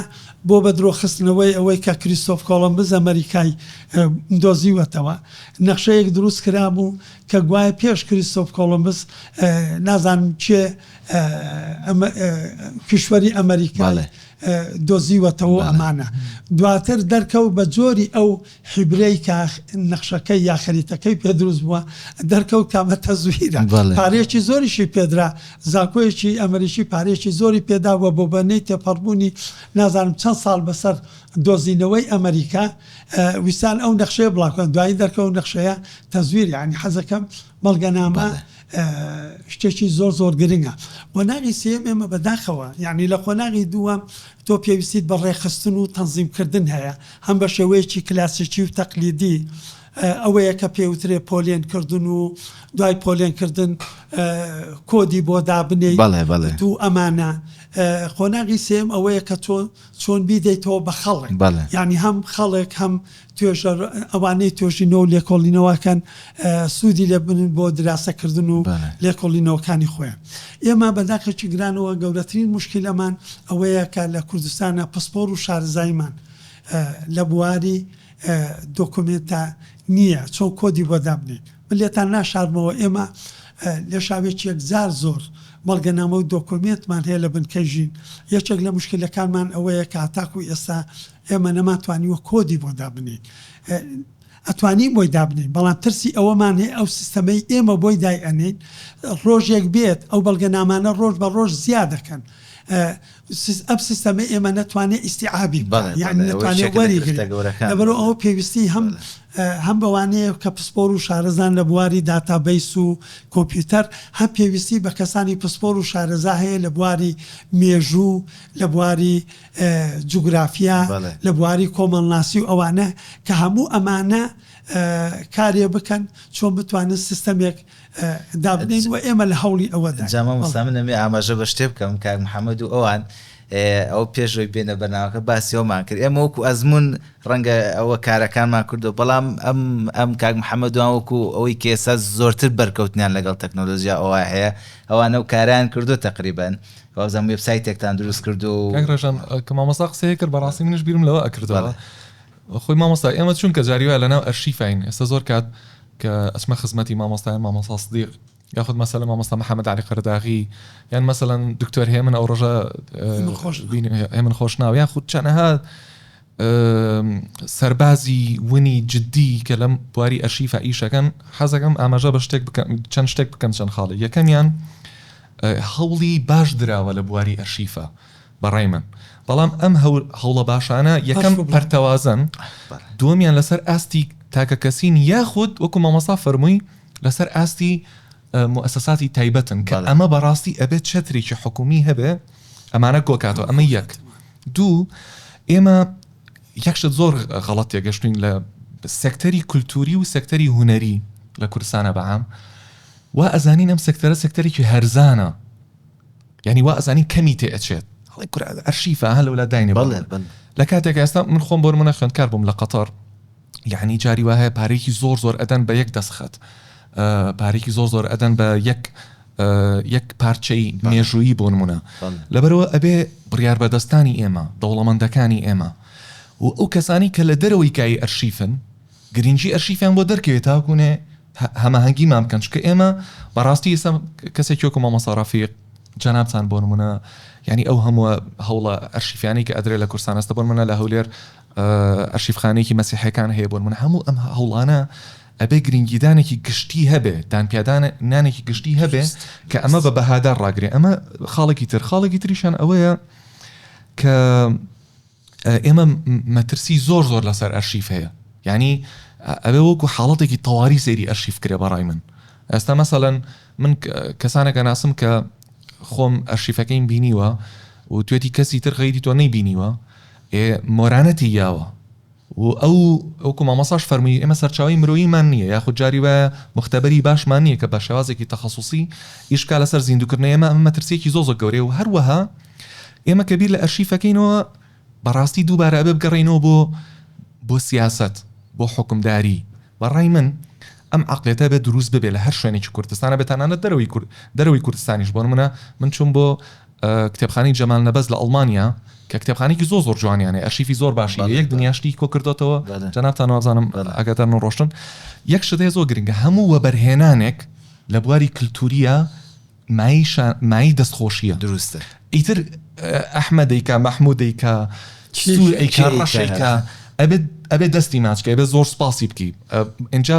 بۆ بە درۆخستنەوەی ئەوەی کە کریسۆف کۆڵمبز ئەمەریکای دۆزیوەتەوە نەخشەیەک دروست کرابوو کە گوایە پێش کریسۆف کۆڵمبز نازانم چێ کیشوەری ئەمەریکا دۆزیوەتەوە ئەمانە دواتر دەرکەوت بە جۆری ئەو حیبرەی کە نەخشەکەی یا خەریتەکەی پێ دروست بووە دەرکەوت کامە تەزویرە پارەیەکی زۆریشی پێدرا زانکۆیەکی ئەمریکی پارەیەکی زۆری پێدا و بۆ بەنەی تێپەڕبوونی نازانم چەند ساڵ بەسەر دۆزینەوەی ئەمریکا ویستان ئەو نەخشەیە بڵاوکەن دوایی دەرکەوت نەخشەیە تەزویر یانی حەزەکەم بەڵگەنامە شتێکی زۆر زۆر گرنگە. قۆناغی سێیەم ئێمە بەداخەوە یانی لە قۆناغی دووەم تۆ پێویستیت بە ڕێکخستن و تەنزیم کردن هەیە هەم بە شێوەیەکی کلاسیکی و تەقلیدی ئەوەیە کە پێ وترێ پۆلێن کردن و دوای پۆلێن کردن کۆدی بۆ دابنێیت و ئەمانە قۆناغی سێیەم ئەوەیە کە تۆ چۆن بیدەیتەوە بە خەڵک یانی هەم خەڵک هەم توێژەر ئەوانەی توێژینەوە و لێکۆڵینەوە ئەکەن سوودی لێ ببینن بۆ دراسەکردن و لێکۆڵینەوەکانی خۆیان. ئێمە بە داخێکی گرانەوە گەورەترین موشکیلەمان ئەوەیە کە لە کوردستانا پسپۆر و شارەزاییمان لە بواری دۆکۆمێنتا نییە چۆن کۆدی بۆ دابنێین. من لێتان ناشارمەوە ئێمە لە شاوێکی یەکجار زۆر بەڵگەنامە و دۆکۆمێنتمان هەیە لە بنکەی ژین. یەکێک لە موشکیلەکانمان ئەوەیە کە هەتاکوو ئێستا ئێمە نەمانتوانیوە کۆدی بۆ دابنێین ئەتوانین بۆی دابنێین بەڵام ترسی ئەوەمان هەیە ئەو سیستەمەی ئێمە بۆی دای ئەنێین ڕۆژێک بێت ئەو بەڵگەنامانە ڕۆژ بە ڕۆژ زیاد دەکەن ئەم سیستەمە ئێمە نەتوانێت ئیسیعابی بەرو ئەو پێویستی هەم هەم بەوانەیە کە پسپۆر و شارەزان لە بواری داتابیس و کۆمپیوتەر هەم پێویستی بە کەسانی پسپۆر و شارەزا هەیە لە بواری مێژوو لە بواری جوگرافیا، لە بواری کۆمەڵناسی و ئەوانە کە هەموو ئەمانە کارێ بکەن چۆن بتوانن سیستەمێک دابنێن و ئێمە لە هەوڵی ئەوەداین. جا مامۆستا من ئەمێ ئاماژە بە شتێ بکەم کاک محەمەد و ئەوان ئەوە پێش ئەوەی بێنە بەرنامەکە باسی ئەوەمان کرد ئێمە وەکوو ئەزموون ڕەنگە ئەوە کارەکانمان کردووە بەڵام ئەم ئەم کاک محەمەد وان وەکوو ئەوەی کە ئێستا زۆرتر بەرکەوتنیان لەگەڵ تەکنۆلۆژیا ئەوە هەیە ئەوان ئەو کارەیان کردووە تەقریبەن وابزانم وێب سایتێکتان دروست کردو کاک ڕێژان کە مامۆستا قسەیە کرد بەڕاستی منش بیرم لەوە ئەکردەوە خۆی مامۆستا ئێمە چونکە جاری وایە لەناو ئەرشیفین ئێستا زۆر کات کە ئەچمە خزمەتی مامۆستای مامۆستا صدیق یاخود مەسەلە مامۆستا محەممەد علی قەرداغی یان مەسەەن دکتۆر هێمن ئەو ڕژە هێمن خۆش ناو یاخود چەنەها سەربازی ونی جدی کە لەم بواری ئەرشیفا ئیش ئەکەن، حەز ئەکەم ئاماژە بە شتێک بکەم، چەند شتێک بکەم، چەند خاڵێک. یەکەمیان، هەوڵی باش دراوە لە بواری ئەرشیفا بە ڕای من، بەڵام ئەم هەوڵە باشانە یەکەم پەرتەوازەن، دووەمیان لەسەر ئاستی تاکەکەسی نین یاخود وەکو مامۆستا فەرمووی لەسەر ئاستی موئەسەساتی تایبەتن کە ئەمە بەڕاستی ئەبێت چەترێکی حکوومی هەبێت ئەمانە کۆکاتەوە، ئەمە یەک. دوو، ئێمە یەک شت زۆر غەڵەت تێگەشتوین لە سێکتەری کولتووری و سێکتەری هونەری لە کوردستانە بەعام وا ئەزانین ئەم سێکتەرە سێکتەرێکی هەرزانە یعنی وا ئەزانین کەمی تێ ئەچێت هەڵی کورا ئەرشیفە هە لەولا داینێ بەڵێ بەڵێ. لە کاتێک ئێستا من خۆم بۆرمە خوێندکار بووم لە قەتەر یەعنی جاری وا هەیە پارەیەکی زۆر زۆر ئەدەن بە یەک دەستخەت پارەیەکی زۆر زۆر ئەدەن بە یەک یەک پارچەی مێژوویی بۆ نمونە لەبەرەوە ئەبێ بڕیار بەدەستانی ئێمە دەوڵەمەندەکانی ئێمە و ئەو کەسانی کە لە دەرەوەی کای ئەرشیفن گرنگی ئەرشیفیان بۆ دەرکەوێت تاکوونێ هەماهەنگیمان بکەن چکە ئێمە بەڕاستی ئسم کەسێک کۆکو مامەسارافیق جەنابان بۆ نمونە ینی ئەو هەمووە هەوڵە ئەرشیفیانی کە ئەدرێ لە کورسانەستە بۆن منە لە هەولێر ئەرشیفخانەیەکی مەسیحیەکان هەیە بۆ نمونە هەموو ئەم هەوڵانە ئەبێ گرنگیدانێکی گشتی هەبێ دانپیادان نانێکی گشتی هەبێ کە ئەمە بە بەهادار ڕاگرێ ئەمە خاڵێکی تر خاڵێکی تریشان ئەوەیە کە ئێمە مەترسی زۆر زۆر لەسەر ئەرشیف هەیە یعنی ئەوێ وەکو حاڵەتێکی تەواری سەیری ئەرشیف کرێ بەڕای من ئێستا مەسەەن من کەسانەکە ناسم کە خۆم ئەرشیفەکەیم بینیوە و توێتی کەسی تر غیری تۆ نەی بینیوە ئێ مۆرانەتی یاوە و ئەو وەکو مامۆستاش فەرمووی ئێمە سەرچاوەی مرۆییمان نییە یاخود جاری وایە موختەبەری باشمان نییە کە بە شێوازێکی تەخەسوسی ئیش بکا لەسەر زیندووکردنەوەی ئێمە ئەمە مەترسییەکی زۆر زۆر گەورەیە و هەروەها ئێمە کە بیر لە ئەرشیفەکەینەوە بەڕاستی دووبارە ئەبێ بگەڕێینەوە بۆ بۆ سیاسەت بۆ حوکمداری بەڕای من ئەم عقلێتە بێ دروست ببێ لە هەر شوێنێکی کوردستانە بێ تەنانەت دەرەوەی کورد دەرەوەی کوردستانیش بۆ نمونە من چوم بۆ کتێبخانەی جەمال نەبەز لە ئەڵمانیا کە کتێبخانەیەکی زۆر زۆر جوانیان هەیە ئەرشیفی زۆر باشی لە یەک دنیا شتی کۆ کردوتەوە جەنابتان وابزانم ئاگادار نەڕۆشتن یەک شت هەیە زۆر گرنگە هەموو وەبەرهێنانێک لە بواری کلتوریە مای شا- مای دەستخۆشیە دروستە ئیتر ئەحمەدیکا مەحمودیکا سوور ئەیکا کێیکا. ڕەشێکا ئەبێت ئەبێت دەستی ماچکە ئەبێت زۆر سپاسی بکی ئە، ئینجا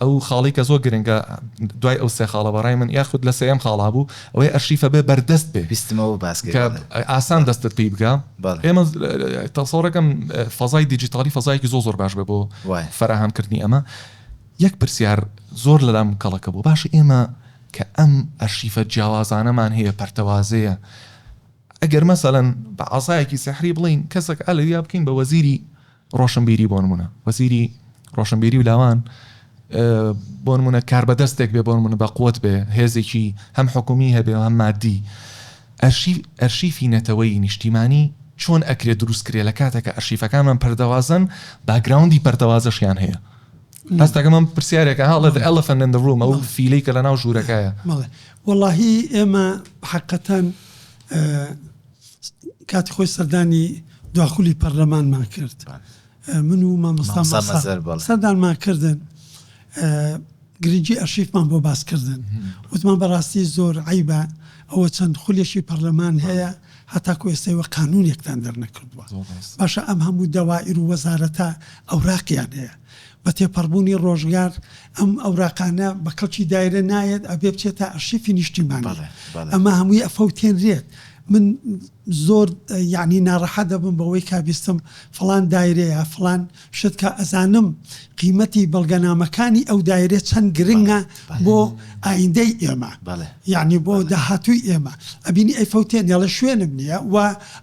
ئەو خاڵەی کە زۆر گرنگە دوای ئەو سێ خاڵە بەڕای من یاخود لە سێیەم خاڵ هەبوو ئەوەی ئەرشیفە بێ بەردەست بێ بیستمەوە باس کە کردنە ئاسان بەڵێ دەستت پی بگا بەڵێ ئێمە تەسەوڕەکەم فەزای دیجیتاڵی فەزایەکی زۆر زۆر باش بێ بۆ وایە فەراهەم کردنی ئەمە یەک پرسیار زۆر لەلام کەڵەکە بوو باشە ئێمە کە ئەم ئەرشیفە جیاوازانەمان هەیە پەرتەوازەیە ئەگەر مەسەلەن بە عەسایەکی سیحری بڵێین کەسەک ئەلەویا بکەین بە وەزیری ڕۆشنبیری بۆ نموونە وەزیری ڕۆشنبیری و لاوان بۆ نمونە کار بەدەستێک بێ بۆ نمونە بە قوت بێ هێزێکی هەم حکومی هەبێ هەم مادی ئەرشیفی نەتەوەی نیشتیمانی چۆن ئەکرێ دروست کرێ لە کاتێکە ئەرشیفەکانمان پەردەوازن باگراوندی پەردەوازەشیان هەیە هەستەکە من پرسیارێکە هاڵێت ئەلفەن لە ڕوومە و فیلی کە لە ناو ژوورەکەیە مەڵێ وەڵی ئێمە حقەتەن کاتی خۆی سەردانی دواخولی پەرلەمانمان کرد من و مامۆستا مەزەربەڵێ. سەردانمان کردن گرنگی ئەرشیفمان بۆ باس کردن وتمان بەڕاستی زۆر عەیبە ئەوە چەند خولێکی پەرلەمان هەیە هەتاکو ئێستای وە قانوونێکتان دەرنەکردووە. باشە ئەم هەموو دەوائیر و وەزارەتە ئەوراقیان هەیە. بە تێپەڕبوونی ڕۆژگار ئەم ئەوراقانە بە کەڵکی دایرە نایەت ئەبێ بچێتە ئەرشیفی نیشتیمانی ئەمە هەمووی ئەفەوتێنرێت من زۆر یعنی ناڕەحەت دەبم بەوەی کا بیستم فلان دایرەیە فلان شت کە ئەزانم قیمەتی بەڵگەنامەکانی ئەو دایرە چەند گرنگە بۆ ئایندەی ئێمە یانی بۆ داهاتووی ئێمە ئەبینی ئەی فەوتێن دەڵێ شوێنم نییە و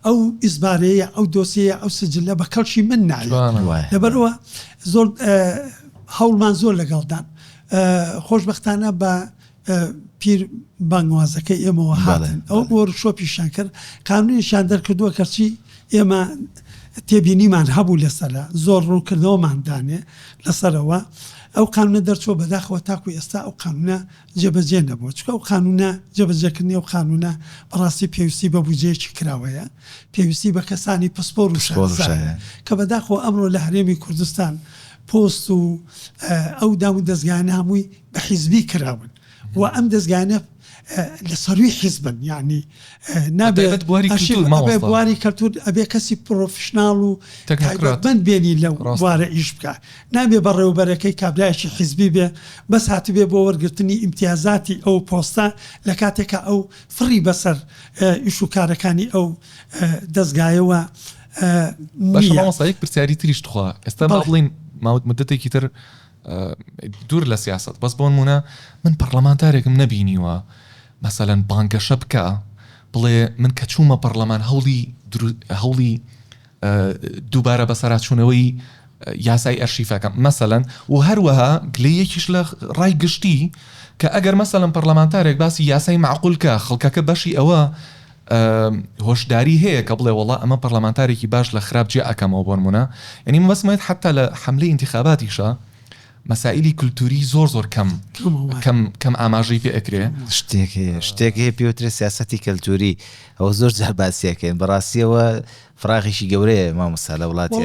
ئەو ئیزبارەیە ئەو دۆسیە ئەو سجلە بە کەڵکی من نایە لەبەرەوە زۆر هەوڵمان زۆر لەگەڵدان خۆشببختانە بە پیر بانگوازەکەی ئێمەوە هاتن ئەو بۆ شۆپیشان کرد قانونیشان دەرکردووە کەچی ئێمە تێبینیمان هەبوو لەسەرە زۆر ڕوونکردنەوەمان دانێ لەسەرەوە ئەو قانونە دەرچووە بەداخەوە تاکو ئێستا ئەو قانونە جێبەجێ نەبووە چونکە ئەو قانونە جێبەجێکردنی ئەو قانونە بەڕاستی پێویستی بە بودجەیەکی کراوەیە پێویستی بە کەسانی پسپۆر و شارەزایە کە بەداخەوە ئەمڕۆ لە هەرێمی کوردستان پۆست و ئەو دامودەزگانە هەمووی بە حیزبی کراون. وە ئەم دەزگانە لە سەرووی حیزبن یانی نابێت بواری کەلتور ئەبێ کەسی پرۆفشنناڵ و تەکراتبند بێنی لە ڕاستوارە ئیش بکە نابێ بەڕێوبەرەکەی کابراایشی حیزبی بێ بەس هاتبێ بۆ وەرگرتنی ئیمتیازاتی ئەو پۆستە لە کاتێکە ئەو فڕی بەسەر ئیش و کارەکانی ئەو دەستگایەوە بەشمەسایەک پرسیاری تریش توخوا ئێستا بڵین ماوت مدتێکی تر دوور لە سیاسەت بەس بۆنموونە من پەڕلەمانتارێکم نەبینیوە مەسەلەن بانگەشە بکا بڵێ من کە چوومە پەڕلەمان هەوڵی هەوڵی دووبارە بەسەراچوونەوەی یاسای ئەرشیفەکەم مەسەەن و هەروەها گلێ یەکیش لە ڕای گشتی کە ئەگەر مەسەلم پەرلەمانتارێک باسی یاسای معقولکە خەڵکەکە بەشی ئەوە هۆشداری هەیە کە بڵێ وەڵا ئەمە پەڕلەمانتارێکی باش لە خراپ جیا ئەکەمەوە بۆنمونە یەنی من بەسمت حتا لە حەملی ئینتخاباتیشە مەسائلی کولتوری زۆر زۆر کەم کەم کەم ئاماژەی پێ ئەکرێ شتێک هەیە شتێک هەیە پێوترە سیاستی کەلتوری ئەوە زۆر جار باسیەکەین بەڕاستیەوە فراغیشی گەورەیە مامۆستا لە وڵاتی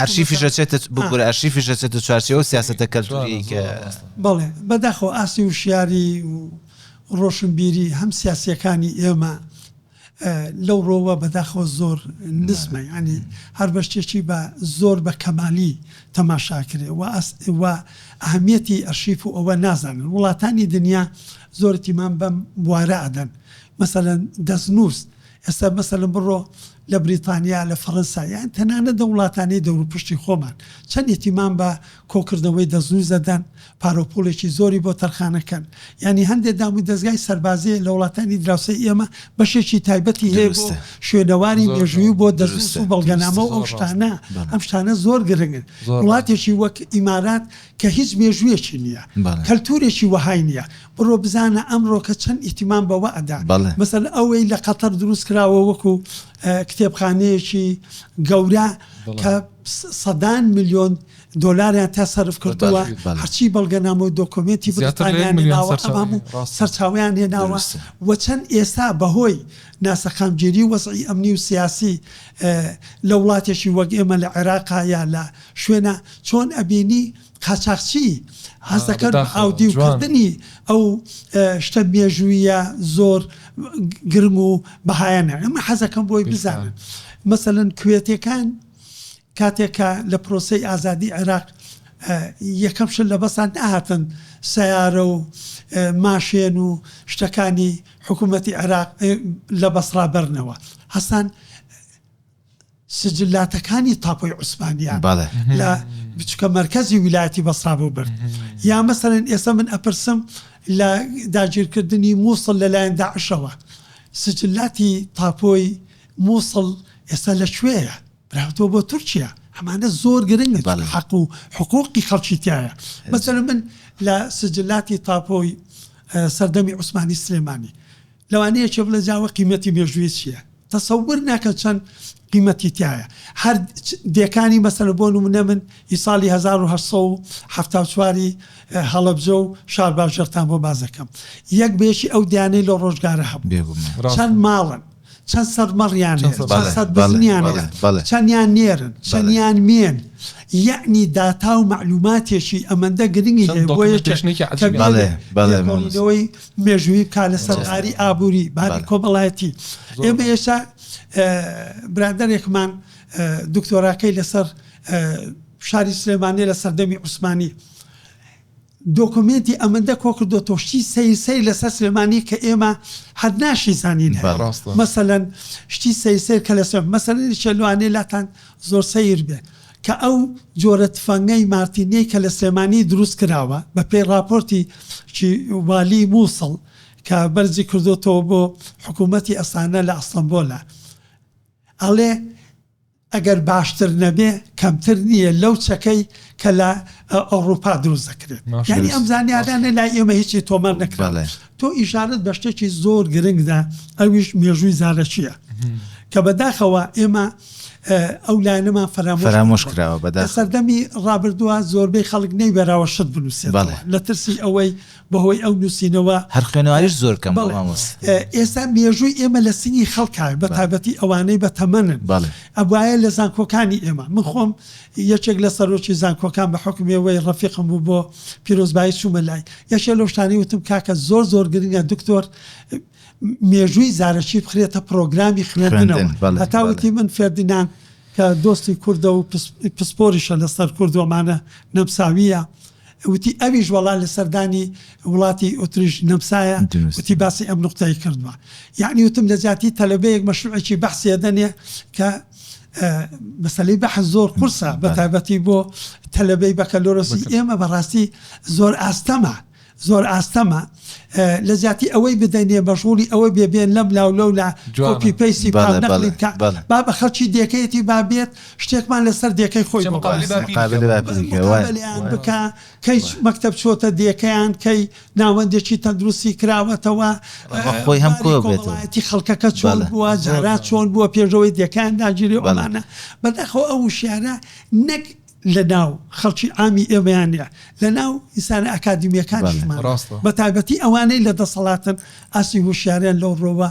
ئەرشی فشەچێتە بگورە ئەرشی فشەچێتە چوارچەوە سیاستە کەلتوری بڵێ بەداخەوە ئاستی وشیاری و ڕۆشنبیری هەم سیاسیەکانی ئێمە لەو ڕۆوە بەداخەوە زۆر نزمە یانی هەر بە شتێکی بە زۆر بە کەمالی تەماشاکرێ و ئەسوا ئەهمیەتی ئەرشیف و ئەوە نازانن وڵاتانی دنیا زۆر تیمان بەم بوارە ئەدەن مەسەلەن دەستنووس ئێستا مەسەلم بڕۆ لە بریتانیا لە فەڕەنسا یان تەنانە دە وڵاتانی دەوروپشتی خۆمان چەند ئیتیمان بە کۆکردنەوەی دەستنووس دەدەن پاروپوڵێکی زۆری بۆ تەرخانەکەن یانی هەندێ دام و دەزگای سەربازیە لە وڵاتانی دراوسێی ئێمە بەشێکی تایبەتی هەیە بۆ شوێنەواری مێژووی و بۆ دەزووس و بەڵگەنامە و ئەو شتانە ئەم شتانە زۆر گرنگن وڵاتێکی وەک ئیمارات کە هیچ مێژوویەکی نییە کەلتورێکی وەهای نییە بڕۆ بزانە ئەمڕۆکە چەند ئیتیمان بەوە ئەدا مەسەل ئەوەی لە قەتەر دروست کراوە وەکو کتێبخانەیەکی گەورە کە سەدان ملیۆن دۆلاریان تیا سەرف کردووە، هەرچی بەڵگەنامە و دۆکۆمێنتی بریتانیان هێناوە ئەم هەموو سەرچاوەیان هێناوە و چەند ئێستا بەهۆی ناسەقامگیری وەزعی ئەمنی و سیاسی لە وڵاتێکی وەک ئێمە لە عێراقا یا لە شوێنا چۆن ئەبینی قاچاخچی هەست دەکەن بە ئاودیو کردنی ئەو شتە مێژوویە زۆر گرنگ و بەهایانە ئەمە حەزەکەم بۆی بزانن مەسەلەن کوێتێکان کاتێک کە لە پرۆسەی ئازادی عێراق یەکەم شت لە بەسان نەهاتن سەیارە و ماشێن و شتەکانی حکوومەتی عێراق لە بەسڕا بەرنەوە هەستان سجلاتەکانی تاپۆی عوسمانیان بەڵێ لە بچکە مەرکەزی ویلایەتی بەسڕا بۆ برد یا مەسەرەن ئێستا من ئەپرسم لە داگیرکردنی مووسڵ لەلایەن داعشەوە سجلاتی تاپۆی مووسڵ ئێستا لە کوێیە رفتوە بۆ تورکیا ئەمانە زۆر گرنگن چون حەق و حقوقی خەڵکی تیایە مەسەلەن من لە سجلاتی تاپۆی سەردەمی عوسمانی سلێمانی لەوانەیە یەکێ بڵێ جا ئەوە قیمەتی مێژووی چیە تەسەور ناکەن چەند قیمەتی تایە هەر دێکانی مەسەلە بۆ نمونە من ئی ساڵی 1970 هەڵەبجە و شار باژێرتان بۆ بازەکەم یەک بەیەکی ئەو دیانەی لە ڕۆژگارە هەبوو چەند ماڵن چەند سەد مەڕیان نێر، چەند سەد بزنیان نێر، چەندیان نێرن، چەندیان مێن، یەعنی داتا و مەعلووماتێکی ئەمەندە گرنگی هەیە بۆ یەکێک کە بێت لێکۆڵینەوەی مێژوویی بکات لەسەر باری ئابووری، باری کۆمەڵایەتی. ئێمە ئێستا برادەرێکمان دکتۆراکەی لەسەر شاری سلێمانییە لە سەردەمی عوسمانی، دۆکۆمێنتی ئەمەندە کۆکردۆتەوە شتی سەیر سەیر لەسەر سلێمانی کە ئێمە هەر ناشیزانین هەیە بەڕاستە. مەسەلەن شتی سەیر سەیر کە لەسەر مەسەلەن یەکێ لەوانەیە لاتان زۆر سەیر بێ کە ئەو جۆرە تفەنگەی مارتینیەی کە لە سلێمانی دروست کراوە بە پێی ڕاپۆرتی چی والی موسڵ کە بەرزی کردۆتەوە بۆ حکوومەتی ئەسانە لە ئەستەمبۆلە ئەڵێ ئەگەر باشتر نەبێ کەمتر نییە لەو چەکەی کە لە ئەوڕوپا دروست دەکرێت ماشاء یانی ئەم زانیارانە لای ئێمە هیچی تۆمار نەکراوە بەڵێ. تۆ ئیشارەت بە شتێکی زۆر گرنگ دا ئەویش مێژووی زارەکییە کە بەداخەوە ئێمە اه، ئەو لایەنەمان فەرامۆش فەرامۆش کردووە. کراوە لە بەداخەوە سەردەمی ڕابردووە زۆربەی خەڵک نەیوێراوە شت بنووسێتەوە بەڵێ. لە ترسی ئەوەی بەهۆی ئەو نووسینەوە. هەر خوێنەواریش زۆر کەمە بەڵێ مامۆستا. ئێستا مێژووی ئێمە لە سنگی خەڵکا بە تایبەتی ئەوانەی بە تەمەنن بەڵێ. ئەبوایە لە زانکۆکانی ئێمە من خۆم یەکێک لە سەرۆکی زانکۆکان بە حوکمی ئەوەی ڕەفیقم بوو بۆ پیرۆزبایی چوومە لای یەکێ لەو شتانەی وتم کاکە زۆر زۆر گرنگە دکتۆر مێژووی زارەکی بخرێتە پڕۆگرامی خوێندنەوە خوێندن بەڵێ هەتا بەڵێ. وتی من فێردیناند کە دۆستی کوردە و پس پسپۆریشە لەسەر کورد و ئەمانە نەمساوییە. وتی ئەویش وەڵا لە سەردانی وڵاتی ئوتریش نەمساە وتی باسی ئەم نوقتەی کردوە یەعنی وتم لە جیاتی تەلەبەیەک مەشروعێکی بەحسی ئەدەنێ کە مەسەلەی بەحس زۆر قورسە بە تایبەتی بۆ تەلەبەی بەکەلۆرۆسی ئێمە بەڕاستی زۆر ئاستەمە زۆر ئاستەمە لە جیاتی ئەوەی بدەنێ بەشغوڵی ئەوە بێبێن لەم لاو لەو لا کۆپی پەیسی پاک نەقڵی بکە با بە خەڵکی دێکەیەتی با بێت شتێکمان لەسەر دێکەی خۆی بۆ باس بکە. مقابلە باپیری کە وای. مقابلەیان بکە کەی چ مەکتەب چۆتە دێکەیان کەی ناوەندێکی تەندروستی کراوەتەوە. ڕە خۆی هەم کۆ باری بێتەوە. کۆمەڵایەتی خەڵکەکە چۆن بەڵێ. بووە جاران چۆن بووە پێشەوەی دێکەیان داگیری و بەڵێ. ئەمانە. بەداخەوە ئەو وشیارە نەک لەناو خەڵکی عامی ئێمەیان نیە لەناو ئینسانە ئەکادیمیەکانیشمان بەڵێ. ڕاستە. بەتایبەتی ئەوانەی لە دەسەڵاتن ئاستی هوشیاریان لەو ڕۆوە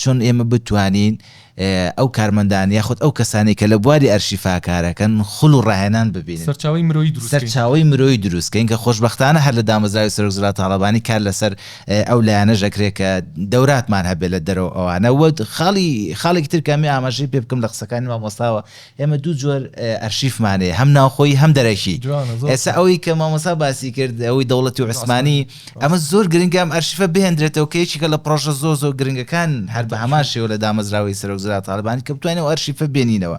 چۆن ئێمە بتوانین ئەو کارمەندان یاخود ئەو کەسانەی کە لە بواری ئەرشیفا کارەکەن خول و ڕاهێنان ببینن، سەرچاوەی مرۆیی دروست کەین. سەرچاوەی مرۆیی دروست کەین کە خۆشبەختانە هەر لە دامەزراوەی سەرۆک زرا تاڵەبانی کار لەسەر ئەو لایەنەش ئەکرێت کە دەوراتمان هەبێت لە دەرەوە ئەوانە. وە خاڵی خاڵێکی تر کە ئەمێ ئاماژەی پێ بکەم لە قسەکانی مامۆستاوە ئێمە دوو جۆر ئەرشیفمان هەیە هەم ناوخۆیی هەم دەرەکی ئێستا ئەوەی کە مامۆسا باسی کرد ئەوەی دەوڵەتی و عوسمانی ئەمە زۆر گرنگە ئەم ئەرشیفە بهێندرێتەوە کە یەکێکە لە پڕۆژە زۆر زۆر گرنگەکان هەر بە هەمان شێوە لە دامەزراوەی سەرۆکزرا تاالبانی کە بتوانێت و ئەرشیفە بێنینەوە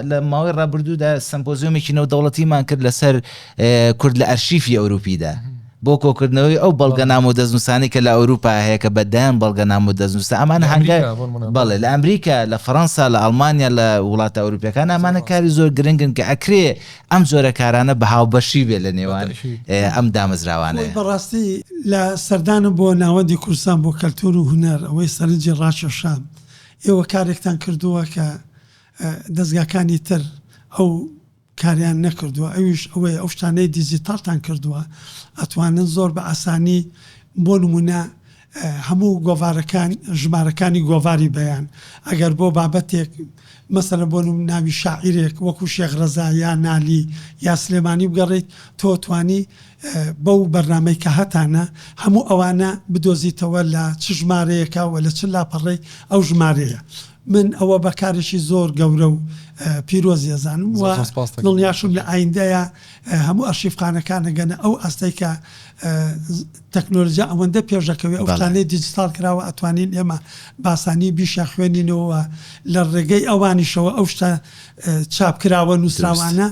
لە ماوەی ڕابردوودا سمپۆزیۆمێکی نەودەوڵەتیمان کرد لەسەر کورد لە ئەرشیفی ئەوروپیدا بۆ کۆکردنەوەی ئەو بەڵگەنامە و دەستنووسانەی کە لە ئەوروپا هەیە کە بە دەیان بەڵگەنامە و دەستنووسە ئەمانە هەنگا بەڵێ لە ئەمریکا لە فەرەنسا لە ئەڵمانیا لە وڵاتە ئەوروپیەکان ئەمانە کاری زۆر گرنگن کە ئەکرێ ئەم جۆرە کارانە بە هاوبەشی بێ لە نێوان ئەم دامەزراوانەیە. بەڕاستی لە سەردانم بۆ ناوەندی کوردستان بۆ کەلتوور و هونەر ئەوەی سەرنجی ڕاکێشام ئێوە کارێکتان کردووە کە دەزگاکانی تر ئەو کاریان نەکردووە ئەویش ئەوەیە ئەو شتانەی دیجیتاڵتان کردووە ئەتوانن زۆر بە ئاسانی بۆ نموونە هەموو گۆڤارەکان ژمارەکانی گۆڤاری بەیان ئەگەر بۆ بابەتێک مەسەلە بۆ نموونە ناوی شاعیرێک وەکو شێخ ڕەزا یا نالی یا سلێمانی بگەڕێیت تۆ توانی بەو بەرنمەی کە هەتانە هەموو ئەوانە بدۆزیتەوە لە چ ژمارەیەکە و لە چ لاپەڕەی ئەو ژمارەیە من ئەوە بە کارێکی زۆر گەورە و پیرۆزی ئەزانم و دڵنیاشم لە ئایندەیا هەموو ئەرشیفخانەکان ئەگەنە ئەو ئاستەی کە تەکنۆلجیا ئەوەندە پێش ئەکەوێ ئەو شتانەی دیجیتاڵ کراوە ئەتوانین ئێمە بە ئاسانی بیشیان خوێنینەوە و لە ڕێگەی ئەوانیشەوە ئەو شتە چاپ کراوە نووسراوانە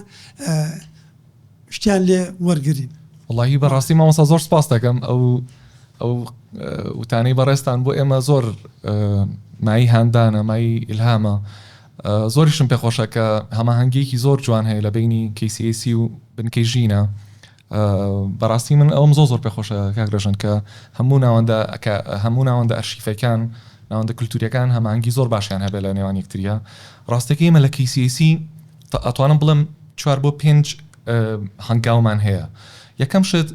شتیان لێ وەرگرین. وەڵاهی بەڕاستی مامۆستا زۆر سپاس دەکەم ئەو ئەو وتانەی بەڕێستان بۆ ئێمە زۆر مای هاندانە مای ئیلهامە زۆریشم پێخۆشە کە هەماهنگگەیەکی زۆر جوان هەیە لە بینی کەیسیسی و بنکەی ژینە بەڕاستی من ئەوم زۆ زۆر پێخۆشە کاکرژن کە هەموو ناوەندە هەموو ناوەندە ئەرشیفەکان ناوەندە کولتوریەکان هەمانگی زۆر باشیان هەبێت لە نێوان یەکتریا ڕاستەکەی مە لە کەیسیسی ئەتوانم بڵێم چوار بۆ پێنج هەنگاومان هەیە یەکەم شت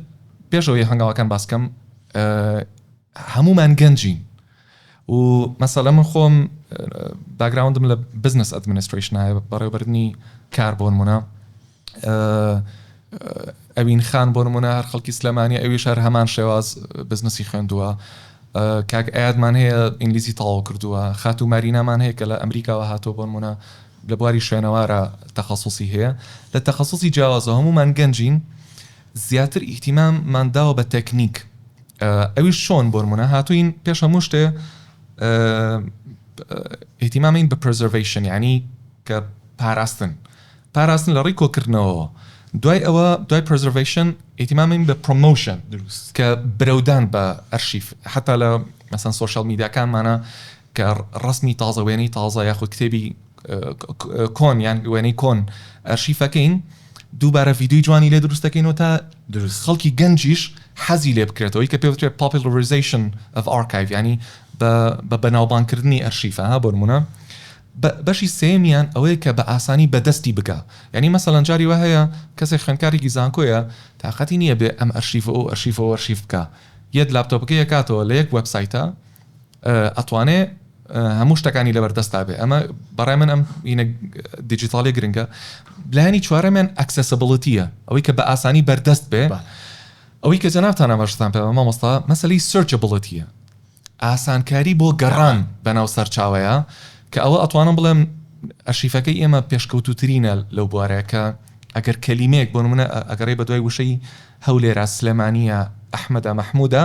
پێشەوەی هەنگاوەکان باسکەم هەمومان گەنجین و مەسەلە من خۆم باگراوندم لە بزنس ئەدمنستریشنایە بەڕێوبردننی کار بۆن منە ئەوین خان بۆ نمونە هەر خەڵکی سلێمانی ئەوی شار هەمان شێواز بزنسی خوێندووە کاک ئەیادمان هەیە ئینگلیزی تەواو کردووە خاتو مارینامان هەیە کە لە ئەمریکاوە هاتۆ بۆن منە لە بواری شوێنەوارا تەخەسوسی هەیە لە تەخەسوسی جیاوازەوە هەموومان گەنجین زیاتر ئیهتیمام مان داوە بە تەکنیک ئەویش شۆن بۆرمونە هاتوین پێش هەموو شتێ ئیهتیمامین بە پرزەرڤەیشن یعنی کە پاراستن پاراستن لە ڕوی کۆکردنەوەوە دوای ئەوە دوای پرزەرڤەیشن ئیهتیمامین بە پرۆمۆشن کە برەودان بە ئەرشیف حتا لە مەسەن سۆشیال میدیاکانمانە کە ڕەسمی تازە، وێنەی تازە یاخود کتێبی کۆن یان وێنەی کۆن ئەرشیفەکەین، دووبارە ڤیدیۆی جوانی لێ دروست دەکەینەوە تا خەڵکی گەنجیش حەزی لێ بکرێتەوە، ئەوەی کە پێ وترێ Popularization of Archive یانی بە بەناوبانگکردنی ئەرشیفە ها بۆ نموونە. بەشی سێیەمیان ئەوەیە کە بە ئاسانی بە دەستی بگا، یانی مەسەلەن جاری وا هەیە کەسێک خوێندکارێکی زانکۆیە تاقەتی نییە بێ ئەم ئەرشیف و ئەو ئەرشیف و ئەو ئەرشیف بکا یەت لاپتۆپەکەی ئەکاتەوە لە یەک وێبسایتە ئەتوانێ هەموو شتەکانی لەبەر دەستا بێ ئەمە بەڕای من ئەم وینە دیجیتاڵی گرنگە لایانی چوارەمیان ئەکسسبڵتیە ئەوەی کە بە ئاسانی بەردەست بێ ئەوەی کە جەنابتان ئەمەشتان پێ مامۆستا مەسلی سرچبڵتیە ئاسانکاری بۆ گەڕان بەناو سەرچاوەیە کە ئەوە ئەتوانم بڵێم ئەشیفەکەی ئێمە پێشکەوتوترینە لەو بوارەکە ئەگەر کەلیمەیەک بۆ منە ئەگەڕێ بە دوای وشەی هەولێرا سلێمانە ئەحمەدا مەحمودا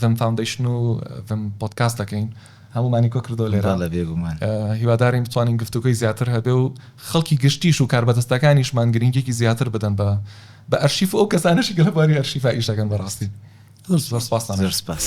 ڤم فاوندەیشن و ڤم پۆدکاست دەکەین هەموومانی کۆ کردووە لێرە هیوادارین بتوانین گفتوگۆی زیاتر هەبێ و خەڵکی گشتیش و کاربەدەستەکانیشمان گرنگێکی زیاتر بدەن بە بە ئەرشیف و ئەو کەسانەشی گەلە باری ئەرشیفا ئیش دەکەن بەڕاستی زۆر زۆر سپاس زۆر سپاس.